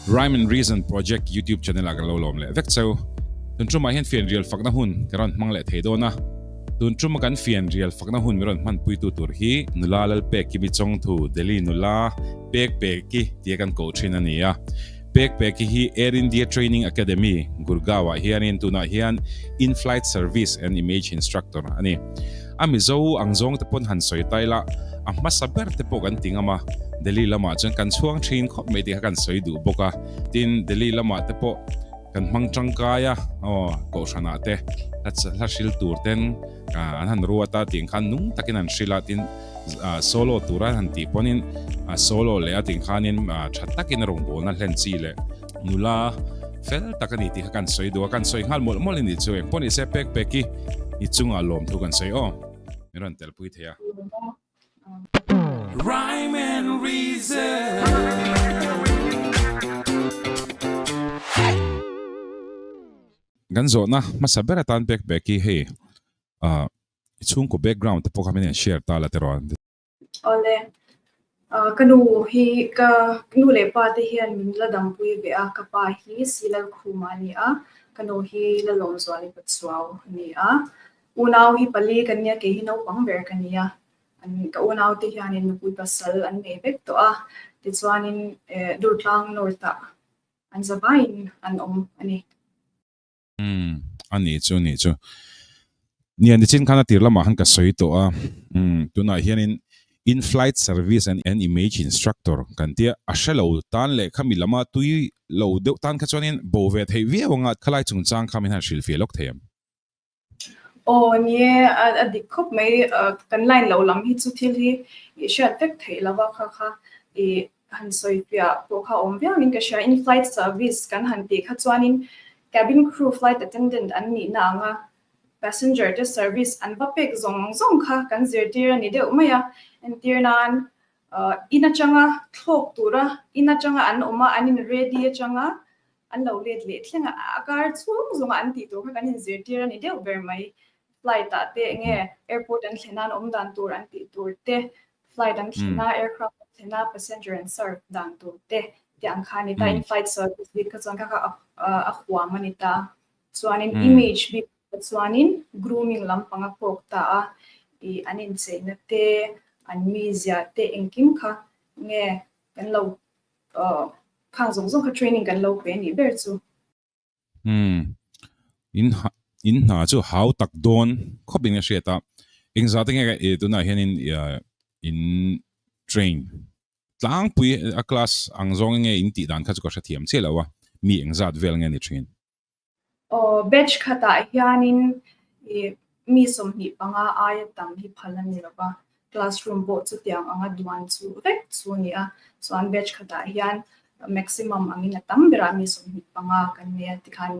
Rhyme and Reason Project YouTube channel ah kan lo lawm leh vek cheu. Tun ṭum ah hian fian rial fakna hun ka rawn hmang leh thei dawn a. Tun ṭum a kan fian rial fakna hun min rawn hman puitu tur hi Nula Lalpeki mi chawngthu Delhi nula Pek Peki tia kan koh ṭhin a ni a. Pek Peki hi Air India Training Academy, Gurgaon ah hianin tunah hian In-Flight Service and Image Instructor a ni. A Mizo ang zawng te pawn han sawi ta ila, a hmasa ber te pawh kan ti ngam a. Delhi lamah chuan kan chhuang thin khawp mai tih kha kan sawi duh bawk a. Tin, Delhi lamah te pawh kan hmang tangkai a, aw, kohhranah te, hla hla hril tur ten, An han ruat a tih khan nung takin an hrilh a tin solo tura han tih pawnin solo leh a tih khanin tha takin rawn bawl na hlen chi leh nula fel tak ani tih kha kan sawi duh a kan sawi nghal mawlh mawlh anih chu eng pawh ni se pek pek i i chunga lawm thu kan sawi aw min rawn tel pui thei a Rhyme and reason Kan zawhna hmasa ber atan pek pek hi hei ah i chhungkaw background te pawh kha min en share ta la tiraw an ti. Awle ka nu hi ka nu leh pa te hian min la dampui ve a, ka pa hi si lal khum a ni a, ka nu hi la lawm zual i pa chuau a ni a. Unau hi pali ka nia kei hi naupang ber ka ni a, an ka unau te hianin nupui pasal an nei vek tawh a, tichuanin eh Durtlang North ah An za vaiin an awm a ni. Umm, a ni chu, a ni chu. Nia, nichin khan a tir lamah khan ka sawi tawh a. Umm, tunah hianin In-flight service and an image instructor kan tia, a hre lo tan leh khami lama tui lo deuh tan kha chuanin bo ve theih viau anga khalai chungchang kha min han hrilhfiah lawk thei ang. Aw ni e, a dik khawp mai, kan line lo lam hi chu thil hi i hriat vek theih lo va kha kha i han sawi piah pawh kha awm viau in ka hria, in flight service kan han tih kha chuanin cabin crew flight attendant an nihna anga passenger te service an va pek zawng zawng kha kan zirtir a ni deuh mai a, entir nan in atanga thlawk tura in atanga an awm a an in ready atanga An lo let leh thleng a, a kar chhung zunga an tih tur kha kan in zirtir a ni deuh ber mai. Flight ah te enge airport an thlen nan awm dan tur an tih tur te, flight an thlen a, aircraft an thlen a, passenger an serve dan tur te tih ang kha a ni ta. In flight service bik kha chuan kha kha a huam a ni ta. Chuanin image bik kha chuanin grooming lam panga kawk ta a, i an incheina te, an mizia te engkim kha nge kan lo Aww. Khang zawng zawng kha training kan lo pe nih ber chu. Umm. In ha in hna chu hau tak dawn khawp in ka hriat a. Engzah te nge ka e tunah hianin in train tlangpui a class ang zawng enge in tih dan kha chu ka hrethiam chiah loh a. Mi engzat vel nge ni thin. Aw, batch khatah hianin i mi sawmhnih panga aia tam hi phal a ni lova, classroom pawh chutiang anga duan chu vek chu a ni a, chuan batch khatah hian maximum angin a tam berah mi sawmhnih panga kan nei a tikhan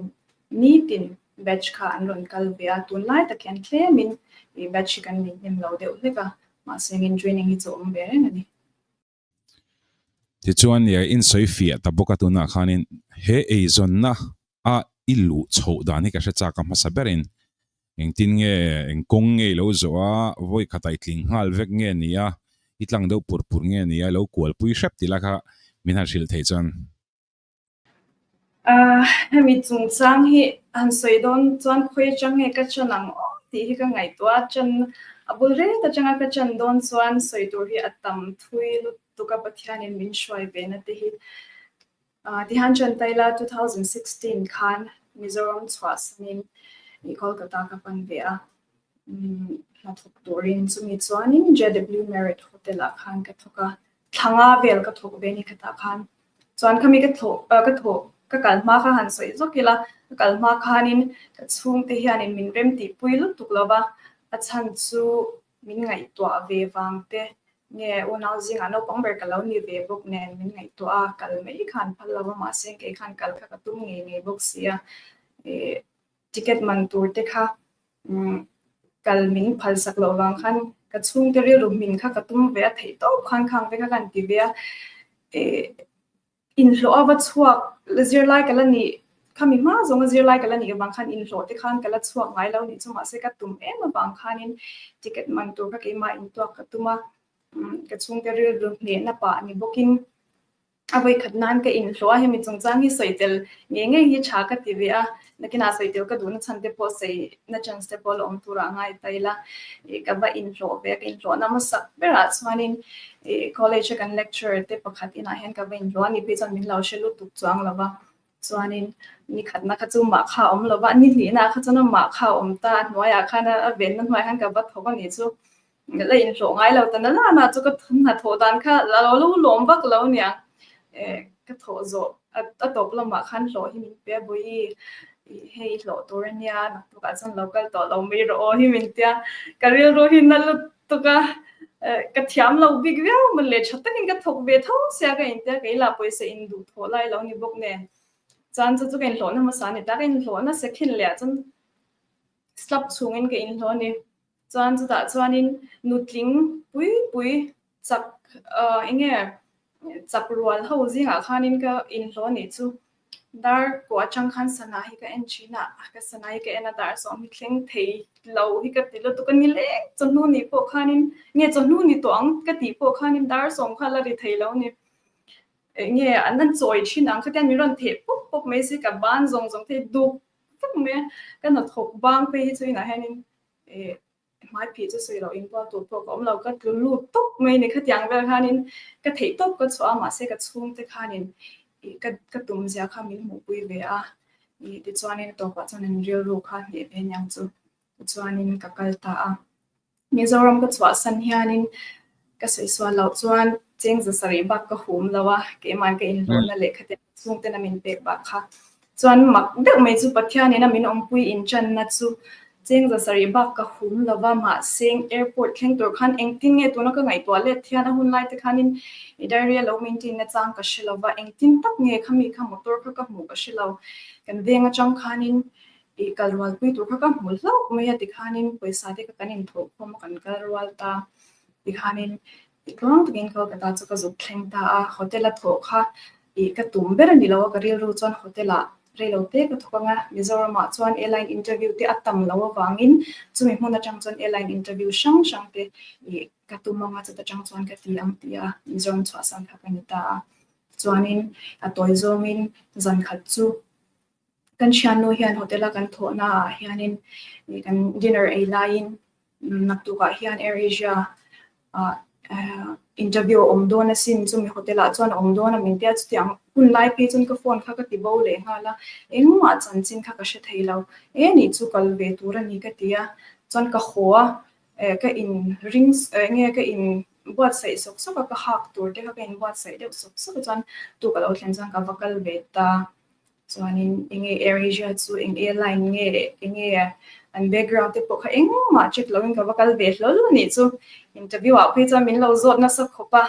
nitin batch kha an rawn kal ve a, tunlai tak hian tlemin batch hi kan nei hnem lo deuh hlek a, mahse ngin training hi chu a awm ve reng a ni. Tichuan i a insawi fiah ta bawk a tunah khanin he eizawnna a i luh chhoh dan hi ka hre chak a hmasa berin engtin nge eng kawng nge i lo zawh a, vawi khat a i tling nghal vek nge ni a, i tlang deuh pur pur nge ni a, i lo kualpui hrep tih la kha min han hrilh thei chuan. Hemi chungchang hi han sawi dawn chuan khawi atang nge ka chan ang aw tih hi ka ngaihtuah a, chan a bul ret atang a ka chan dawn chuan sawi tur hi a tam thui lutuk a Pathianin min hruai ve na te hi tihan Chantayla two thousand sixteen khan Mizoram chhuah sanin i Kolkata ka pan ve a hnathawk turin chumi chuanin JW Marriott Hotel ah khan ka thawk a. Thlanga vel ka thawh ve ni kha tah khan chuan khami ka thawh ka thawh ka kal hma kha han sawi zawk ila ka kal hma khanin ka chhungte hianin min remtihpui lutuk lova a chhan chu min ngaihtuah ve vang te nge unau zingah naupang ber ka lo ni ve bawk nen min ngaihtuah a kal mai kha an phal lova mahse engkeikhan kal kha ka tum ngei ngei bawk sia e Ticket man tur te kha kal min phal sak loh vang khan ka chhung te rilru hmin kha ka tum ve a, theih tawp khan khang te kha kan ti ve a, inhlawh a va chhuak zirlai ka la nih kha mi hma zawnga zirlai ka la nih avang khan inhlawh te khan ka la chhuak ngai lo nih chu mahse ka tum em avang khanin ticket man tur kha keimah in tuak ka tum a, ka chhung te rilru hnehna pah ni bawkin A vawikhat nan ka inhlawh a, hemi chungchang hi sawi tel ngei ngei hi tha ka ti ve a, nakinah sawi tel ka duhna chhan te pawh saina chance te pawh la awm turah a ngai ta ila ih ka va inhlawh ve a, ka inhlawhna hmasak berah chuanin ih college a kan lecturer te pakhat inah hian ka va inhlawh a, niphei chuan min lo hre lutuk chu ang lova. Chuanin ni khatna kha chu mah kha a awm lova, ni hlihna kha chuan a mah kha a awm ta, a hnuaiah khan a venna hnuaiah khan ka va thawk a nih chu. La inhlawh ngai lo ta na la na chu ka hnathawh dan kha a lo lu lawm vak lo nia, ka thawh zawh a tawp lamah khan hlawh hi min pe a Bawihi, hei i hlawh tur a nia, naktuk ah chuan lo kal tawh lo mai rawh aw hi min tia, ka rilru hi na lut Tawka ka thiam lo bik viau man leh tha takin ka thawk ve tho sia ka intia kei lah pawisa in duh thawh lai lo ni bawk nen chuan chu chu ka inhlawh na hmasa ani ta ka inhlawh a nasa khin leh ah chuan slap chhungin ka inhlawh ani chuan chutah chuanin nutling pui pui chak enge chak rual ho zingah khanin ka inhlawh anih chu Dar pawh a chang khan sana hi ka en thin a, ka sana hi ka en a dar zawng hi thleng thei lo hi ka ti lutuk a ni le, chawhnu nih pawh khanin nge chawhnu ni tawh ang ka tih pawh khanin dar zawng kha la ri thei lo a ni, nge an han chawi thin ang khatiang min rawn theh pawp pawp mai se ka ban zawng zawng thei duk vek mai a, ka hnathawk bang phei hi chu inah hianin Ka hmai phih chu sawi lo inbual tur pawh ka awm lo, ka tlu lut tawp mai ni. Khatiang vel khanin ka theih tawp ka chhuah a, mahse ka chhungte khanin ih ka ka tum zia kha min hmuhpui ve a. Ih tichuanin tawpah chuan an rilru kha a hneh ve niang chu, tichuanin ka kal ta a. Mizoram ka chhuahsan hianin. Ka sawi sual loh chuan cheng za sarih bak ka hum lo a, keimah ka inhlawhna lehkha te hnah chhung ten a min pek bak kha. Chuan mak deuh mai chu Pathianin a min awmpui inchanna chu cheng za sarih bak ka hum lo va, mahse airport thleng tur khan engtin nge tuna ka ngaihtuah let hian a hun laite khanin i diary-a lo maintain-na chang ka hre lo va, engtin tak nge kha mi kha motor kha ka hmuh ka hre lo. Kan veng atang khanin Tih kal rualpui tur kha ka hmu hlauh mai a tikhanin pawisa te kha kan inthawh khawm a kan kal rual ta tikhanin titluang takin Kolkata chu ka zuk thleng ta a hotel a thawh kha i ka tum ber a ni lo a ka rilru chuan hotel ah reilo te ka thawk ang a Mizoram ah chuan airline interview te a tam lo avangin chumi hmun atang chuan airline interview hrang hrang te i ka tum ang a chuta tang chuan ka ti ang tia Mizoram chhuah san kha ka ni ta a chuanin a tawi zawngin zan khat chu Kan thiannu hian hotel a kan thawh naah hianin kan dinner ei laiin nak tukah hian Air Asia ah interview a awm dawn asin chumi hotel ah chuan a awm dawn a min tia chutiang hun lai phei chuan ka phone kha ka ti bo leh nghal a engmah chanchin kha ka hre thei lo e nih chu kal ve tur a ni ka ti a chuan ka haw a eh ka in ring enge ka in buatsaih sawk sawk a ka hak tur te kha ka in buatsaih deuh sawk sawk a chuan tu ka lo thlen chuan ka va kal ve ta. chuanin enge air asia chu eng airline nge enge an background te pawh kha engmah check loin ka va kal ve hlawl a nih chu interview ah phei chuan min lo zawt nasa khawp a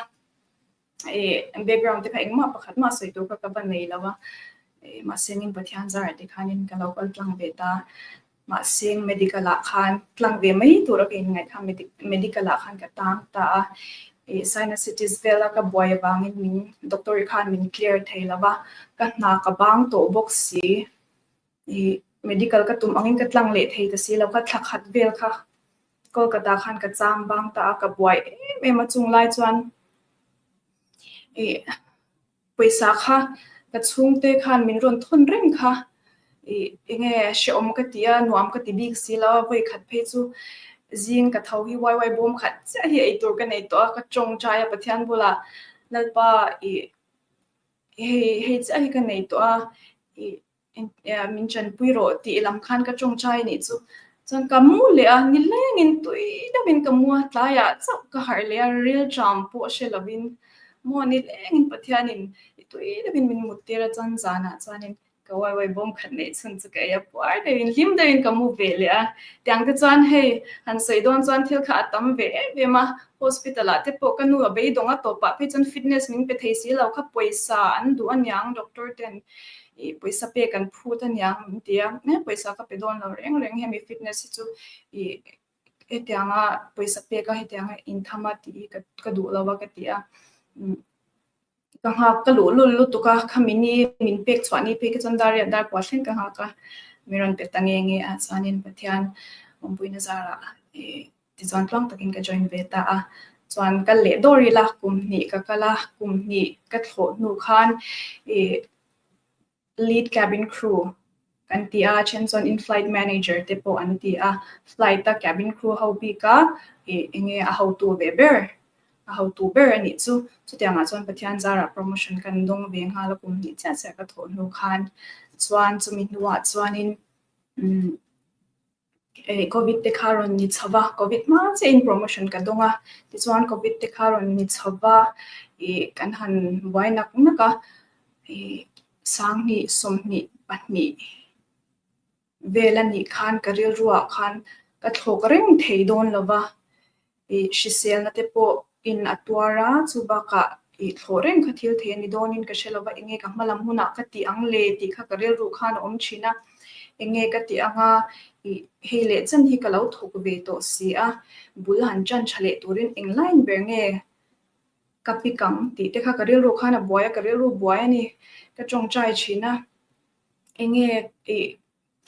e background te kha engmah pakhat mah sawi tur kha ka va nei lo a e mahse min pathian zara te khanin ka lo kal tlang ve ta Mahse, medical ah khan tlang ve mai tur a kein ngaih kha medical ah khan ka tang ta a, ih sinusitis vel a ka buai avangin min doctor i khan min clear thei lova, ka hna ka bang tawh bawk si, ih medical ka tum angin ka tlang leh thei ta si lo, ka thla khat vel kha Kolkata khan ka chang bang ta a, ka buai em em a chunglai chuan ih Pawisa kha ka chhungte khan min rawn thawn reng kha i enge hrehawm ka ti a, nuam ka ti bik si lo a, vawikhat phei chu zing ka tho hi uai uai bawm khat chiah hi eitur ka nei tawh a, ka tawng tai a Pathian bula, Lalpa i hei hei chiah hi ka nei tawh a, i. Engtiah min chanpui rawh tih lam khan ka tawngtai a nih chu. Chuan ka mu leh a, nilengin tui deuhin ka mu a, tlaiah chauh ka harh leh a, rilṭam pawh hre lovin. Maw nilengin Pathianin i tui deuhin min mut tir a chuan zanah chuanin ka uaiuai bawm khat neih chhun chu ka ei a, puar deuhin hlim deuhin ka mu ve leh a. Tiang te chuan hei han sawi dawn chuan thil kha a tam ve em em a, hospital ah te pawh ka nu a beidawng a tawpah phei chuan fitness min pe thei si lo kha pawisa an duh a niang doctor ten I pawisa pek an phut a nia min ti a, he pawisa ka pe dawn lo reng reng hemi fitness hi chu i hetiang a pawisa pek a hetiang a in tham a tih hi ka duh lo a ka ti a. Ka nghak ka luh lul lutuk a, khamin i min pek chhuah ni phei khi chuan dar riat dar puah thleng ka nghak a, min rawn pe ta nge nge a chuanin Pathian awmpuina zarah Tichuan tluang takin ka join ve ta a, chuan kal leh dawr ila kum hnih ka kal a, kum hnih ka thlawh hnu khan i lead cabin crew kan ti a, a then chuan in flight manager te pawh an ti a, flight a cabin crew ho bik a i enge a hotu ve ber, a hotu ber a nih chu. Chutiang ah chuan Pathian zarah promotion kan dawng ve nghal a, kum hnih chiah chiah ka thlawh hnu khan, chuan chumi hnu ah chuanin umm. Covid te kha rawn ni chho va, Covid hma chiah in promotion ka dawng a, tichuan Covid te kha rawn ni chho va, ih kan han buai nak nak a, ih sanghnih, sawmhnih, pahnih vel a nih khan ka rilru ah khan ka thlawk reng thei dawn lo va. ih hriselna te pawh in a tuar a, chu bakah ih thlawh reng kha thil thei a ni dawnin ka hre lo va, enge ka hmalam hunah ka tih ang le tih kha ka rilru khan a awm thin a, enge ka tih anga ih hei leh chan hi ka lo thawk ve tawh si a, bul han chan tha leh turin eng lain ber nge ka pik ang tih te kha ka rilru khan a buai a, ka rilru buai a ni ka tawngtai thin a, enge ih.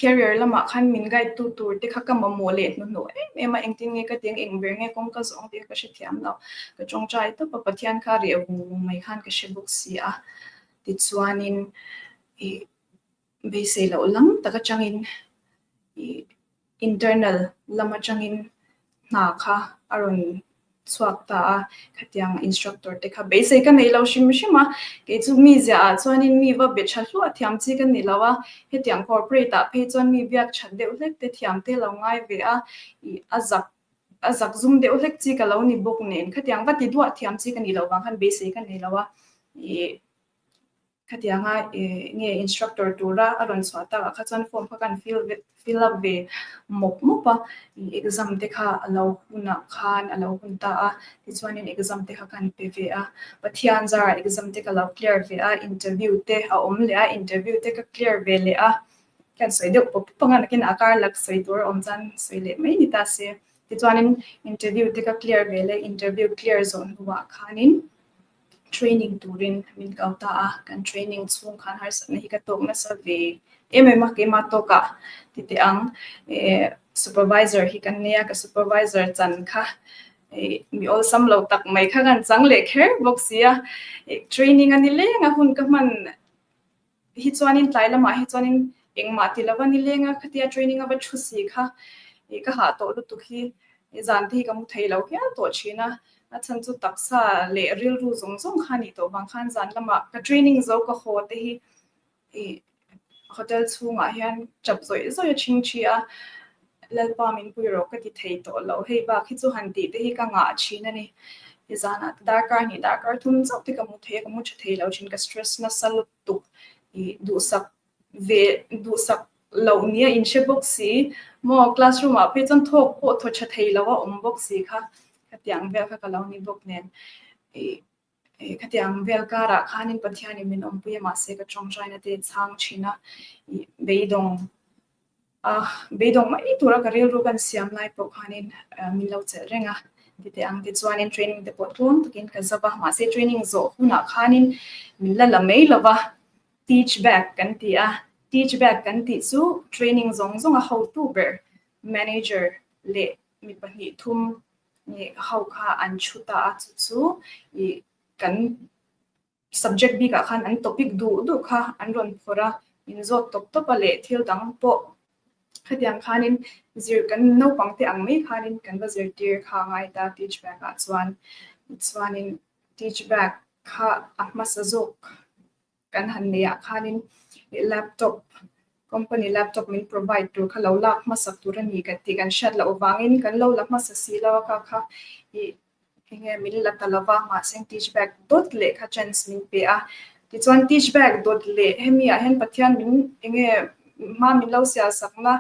Career lamah khan min guide tu turte kha ka mamawh leh hnuhnawh em em a, engtin nge ka teng engber nge kawng ka zawh ang tih kha ka hre thiam lo. Ka tawngtai tawp a, Pathian kha a riah vung vung mai khan ka hre bawk si a. Tichuanin i beisei loh lam tak atangin i internal lam atangin hna kha a rawn chhuak ta a, khatianga instructor te kha beisei ka nei lo hrim hrim a, kei chu mi ziah ah chuanin mi va be tha hluah thiam chi ka ni lo a, hetiang corporate ah phei chuan mi biak that deuh hlek te thiam te lo ngai ve a, ih a zak a zak zum deuh hlek chi ka lo ni bawk nen khatiang va ti duah thiam chi ka nih loh vang khan beisei ka nei lo a, ih. Khatianga nge instructor tura a rawn chhuah takah kha chuan form kha kan fill ve fill up ve mawp mawp a i exam te kha a lo hunah khan a lo hun ta a tichuanin exam te kha kan pe ve a Pathian zara exam te ka lo clear ve a interview te a awm leh a interview te ka clear ve leh a khian sawi deuh pawp pawp anga nakin a kar lak sawi tur a awm chuan sawi leh mai ni ta se tichuanin interview te ka clear ve leh interview clear zawh hnuah khanin Training turin min kau ta a, kan training chhung khan harsatna hi ka tawk nasa ve em em a, keimah tawk a ti teh ang. Supervisor hi kan nei a, ka supervisor chan kha mi awlsam lo tak mai kha kan chang leh kher bawk si a. Training a ni leng a, hun ka hman Hi chuanin tlai lamah hi chuanin engmah ti lova ni lenga khatia training a va thu si kha ih ka hah tawh lutuk hi zan te hi ka hmu thei lo hial tawh thin a, a chhan chu taksa leh rilru zawng zawng kha nih tawh vang khan zan lamah ka training zo ka haw te hi ih hotel chhungah hian chap zawih zawih a chhing thi a, Lalpa min pui rawh ka ti thei tawh lo, hei bak hi chu han tih te hi ka ngah thin a ni. He zan ah darkar ni darkar thum zauh te ka hmu thei a, ka hmu tha thei lo thin, ka stress nasa lutuk. Ih duhsak ve duhsak loh ni a inhre bawk si maw, classroom ah pawh chuan thawk pawh thaw tha thei lo a awm bawk si kha ka tiang vel kha ka lo ni bawk nen. Ih. Khatiang vel karah khanin Pathianin min awmpui mahse ka tawngtaina te chhang thin a, beidawng a beidawng mai tura ka rilru kan siam lai pawh khanin min lo chelh reng a, tite ang te chuanin training te pawh tluang takin ka zap a, mahse training zawh hunah khanin min la la mai lova teach back kan ti a, teach back kan tih chu training zawng zawnga hotu ber manager leh mi pahnih thum nih ho kha an thu ta a, chu chu ih kan subject bik ah khan an topic duh duh kha an rawn phawrh a, in zawt tawp tawp a leh thil dang pawh hetiang khanin zir kan naupang te ang mai khanin kan va zirtir kha a ngai ta teach bag ah chuan, tichuanin teach bag kha a hmasa zawk Kan han neiah khanin laptop, company laptop min provide tur kha lo lak hmasa tur a ni kan tih kan hriat loh avangin kan lo la hmasa si lo a ka kha i enge min la ta lova mahse teach bag dawt leh kha chance min pe a. Tichuan teach bag dawt leh hemi ah hian Pathian min enge hma min lo sial sak na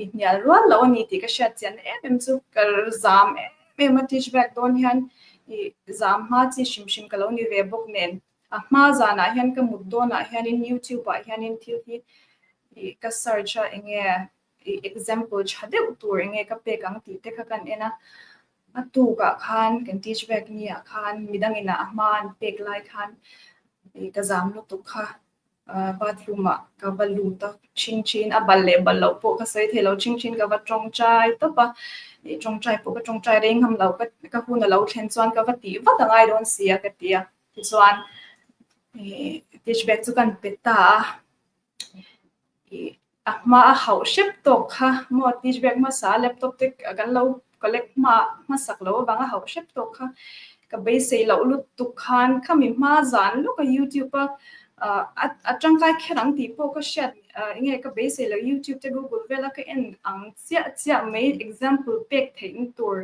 i hnial rual loh a ni tih ka hriat chian na em em chu ka zam em em a teach bag dawn hian i zam hma chi hrim hrim ka lo ni ve bawk nen A hma zanah hian ka mut dawnah hianin youtube ah hianin thil hi ih ka search a eng nge ih example tha deuh tur eng nge ka pek ang tih te kha kan en a. A tukah khan kan teach vek niah khan midang inah a hma an pek lai khan ih ka zam lutuk kha bathroom ah ka va lu ta thin thin a bal leh bal loh pawh ka sawi thei lo thin thin ka va tawngtai tawp a. Ih tawngtai pawh ka tawngtai rei ngam lo ka hun a lo thlen chuan ka va tih vat angai dawn sia ka ti a. tichuan dish bag chu kan pe ta a a hma a hauh hrep tawk kha maw dish bag hmasa laptop te kan lo collect hma hmasak loh avang a hauh hrep tawk kha ka beisei loh lut tuk khan khami hma zan lawk a youtube a a tangkai kher ang tih pawh ka hriat enge ka beisei loh youtube te google vela ka en ang chiah chiah mai example pek theihna tur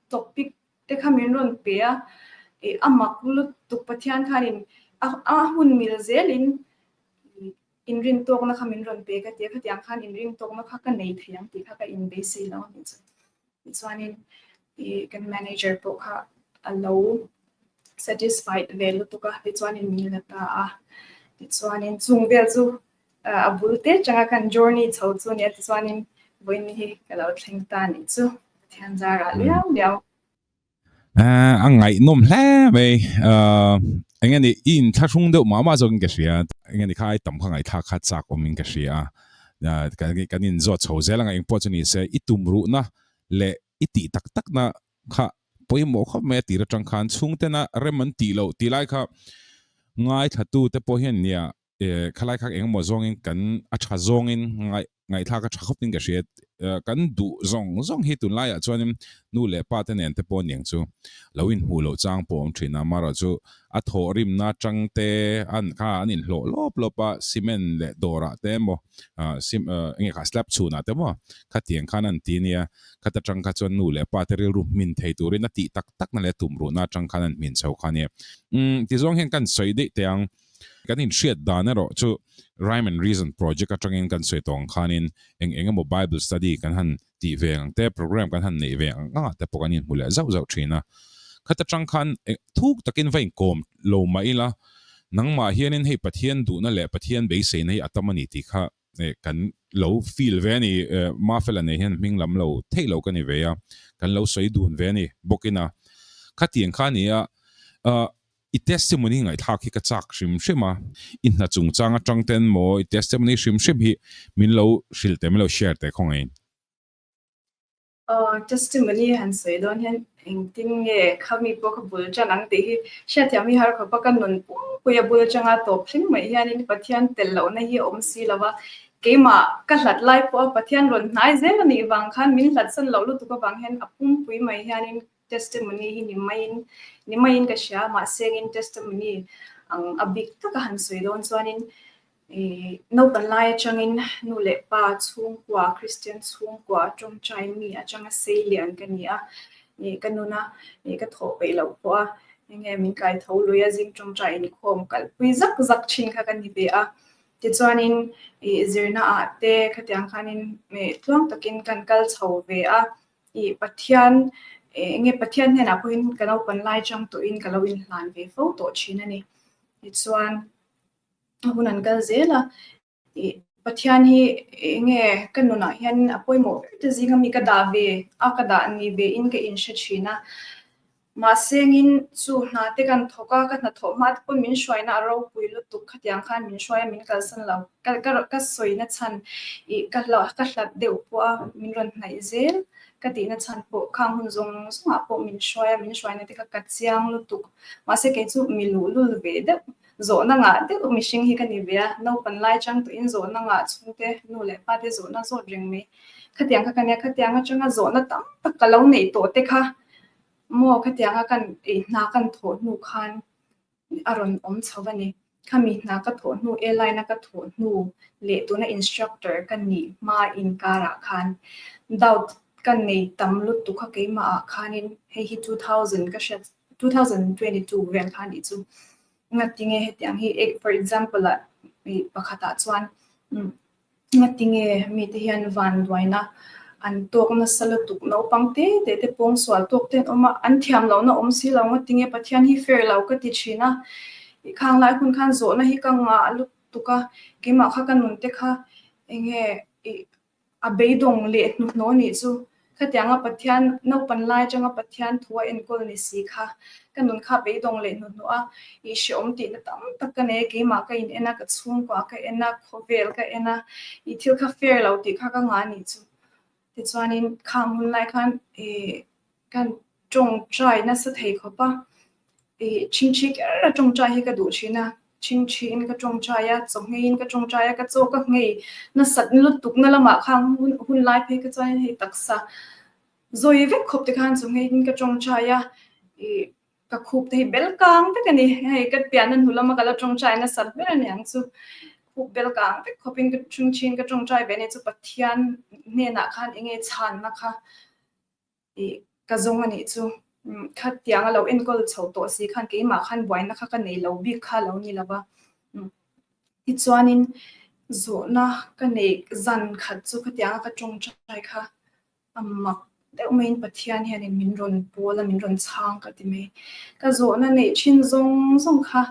topic Te kha min rawn pe a, ih a mak lutuk Pathian khanin a a hun mil zelin ih inrin tawkna kha min rawn pe ka tia, khatiang khan inring tawkna kha ka nei thei ang tih kha ka inbeisei lo anih chu. Tichuanin ih kan manager pawh kha a lo satisfied ve lutuk a, tichuanin min la ta a, tichuanin chung vel chu A bul te changa kan journey chho chu nia tichuanin Bawiin hi ka lo thleng ta nih chu Pathianzar ah liau liau. A ngaihnawm hle mai eng nge ni i inthlahrung deuh mah mah zawk in ka hria eng nge ni kha ai tam kha ngaithla kha chak awm in ka hria a kan in zawt chho zel anga engpawh chu nise i tumruhna leh i tih tak tak na kha pawimawh khawp mai a tir atang khan chhungtena rem an tih loh tilai kha ngaithlatu te pawh hian nia eh, khalaikhak engemaw zawngin kan a tha zawngin ngaih ngaihthlak a tha khawpin ka hria, eh, kan duh zawng zawng hi tunlaiah chuanin nu leh pate nen te pawh niang chu lo inhmuh loh chang pawh a awm thin a, marawh chu a thawh rimna atang te an kha an inhlawh lawp lawp a, cement leh dawrah te emaw ah cim ah enge kha slab chhunah te emaw khatiang khan an ti ania, khat atang kha chuan nu leh pate rilru hmin thei turin a tih tak tak na leh tumruhna atang khan an hmin chho kha ania, umm, tizuang hian kan sawi daih teh ang, Kan inhriat dan erawh chu Rhyme and Reason project atangin kan sawi tawng ang khanin eng eng emaw Bible study kan han tih ve ang te, programme kan han neih ve ang angah te pawh kan inhmu leh zauh zauh thin a. Khat atang khan thuk takin va inkawm lo mah ila, nangmah hianin hei Pathian duhna leh Pathian beiseina hi a tam a ni tih kha eh kan lo feel ve a ni eh Mafela nei hian hming lam lo theih lo ka ni ve a, kan lo sawi dun ve a ni bawk in a khati ang kha ni a ah i testimony ngaihthlak hi ka chak hrim hrim a i hna chung chang atang ten maw i testimony hrim hrim hi min lo hrilte min lo share te khawngain. Aw, testimony han sawi dawn hian engtin nge kha mi pawh ka bul tan ang tih hi hriatthiam hi har khawpa ka nun pum pui a bul atanga tawp thleng mai hianin Pathian tel lohna hi a awm si lo a, keimah ka hlat lai pawha Pathian rawn hnai zel a nih vang khan min hlatsan loh lutuk avang hian a pum pui mai hianin testimony hi ni maiin ni maiin ka hria mahse angin testimony ang a bik taka han sawi dawn chuanin Naupang lai atangin nu leh pa chhungkua, Kristian chhungkua a ṭawngṭaiin mi atanga seilian ka ni a, ih ka nun a, ih ka thawh peih loh pawh a, enge min kaitho lui a, zing ṭawngṭai inkhawm kalhpui zak zak ṭhin kha ka ni ve a. Tichuanin ih zirnaah te khatiang khanin ih tluang takin kan kal chho ve a, ih Pathian ih enge Pathian hnenah pawhin ka naupang lai ṭang tawhin ka lo inhlan ve fo tawh ṭhin a ni. Tichuan a hun an kal zel a, i Pathian hi enge ka nunah hianin a pawimawh ber ta zinga mi ka dah ve a, ka dah ni ve in ka in hre thin a, mahse engin chu hna te kan thawk a, ka hnathawh hma te pawh min hruaina a ropui lutuk khatiang khan min hruai a, min kalsan lo, ka sawi na chhan i ka hlat deuh pawh a, min rawn hnaih zel ka tih na chhan pawh khang hun zawng zawngah pawh min hruai a, min hruaina te kha ka chiang lutuk, mahse kei chu mi luhlul ve deuh Zawhna ngah deuh mihring hi ka ni ve a, naupan lai chang tuin zawhna ngah chhung te, nu leh pa te zawhna zawt reng mai. Khatiang kha ka nia, khatiang atanga zawhna tam tak ka lo neih tawh te kha maw khatianga ka ei hna kan thawh hnu khan a rawn awm chho a ni. Khami hna ka thawh hnu e laina ka thawh hnu leh tuna instructor ka nih hma inkarah khan doubt ka nei tam lutuk kha keimahah khanin hei hi two thousand ka hriat two thousand and twenty two veng kha nih chu ngat ti nge hetiang hi for example a mi pakhat ah chuan ngat ti nge mi te hian van duaina an tok na sala tuk no pang te te te pawng sual tok ten oma an thiam lo na om si lo ngat ti nge pathian hi fair lo ka ti thina i khang lai hun khan zo na hi ka nga lut tuka kema kha ka nun te kha enge i A beidawng leh hnuhnawh nih chu khatiang a Pathian, naupan lai atang a Pathian thu a enkawl ni si kha ka nun kha beidawng leh hnuhnawh a ihhriat awm tihna tam tak ka nei a, keimah ka in en a, ka chhungkua ka en a, khawvel ka en a, ih thil kha fair lo tih kha ka ngah a nih chu. Tichuanin khang hun lai khan ih Kan tawngtai nasa thei khawp a, i chingthi ker a tawngtai hi ka duh thin a, chingthiin ka tawngtai a, chawhngeiin ka tawngtai a, ka chaw ka ngei nasat lutukna lamah kha hun lai phei kha chuan hei taksa zawi vek khawpte khan chawhngeiin ka tawngtai a, i ka khup te hi bel kang vek a ni, hei ka piahna hnu lama ka la tawngtai nasat ber a ni ang chu, khup bel kang vek khawpin ka chingthiin ka tawngtai ve a ni chu Pathian hnenah khan enge chhanna kha i ka zawng a nih chu khat tiang a lo enkawl chho tawh si khan keimah khan buaina kha ka nei lo bik kha lo ni lova tichuanin zawhna ka neih zan khat chu khatianga ka tawngtai kha a mak deuh mai in pathian hianin min rawn pawl a min rawn chhang ka ti mai ka zawhna neih thin zawng zawng kha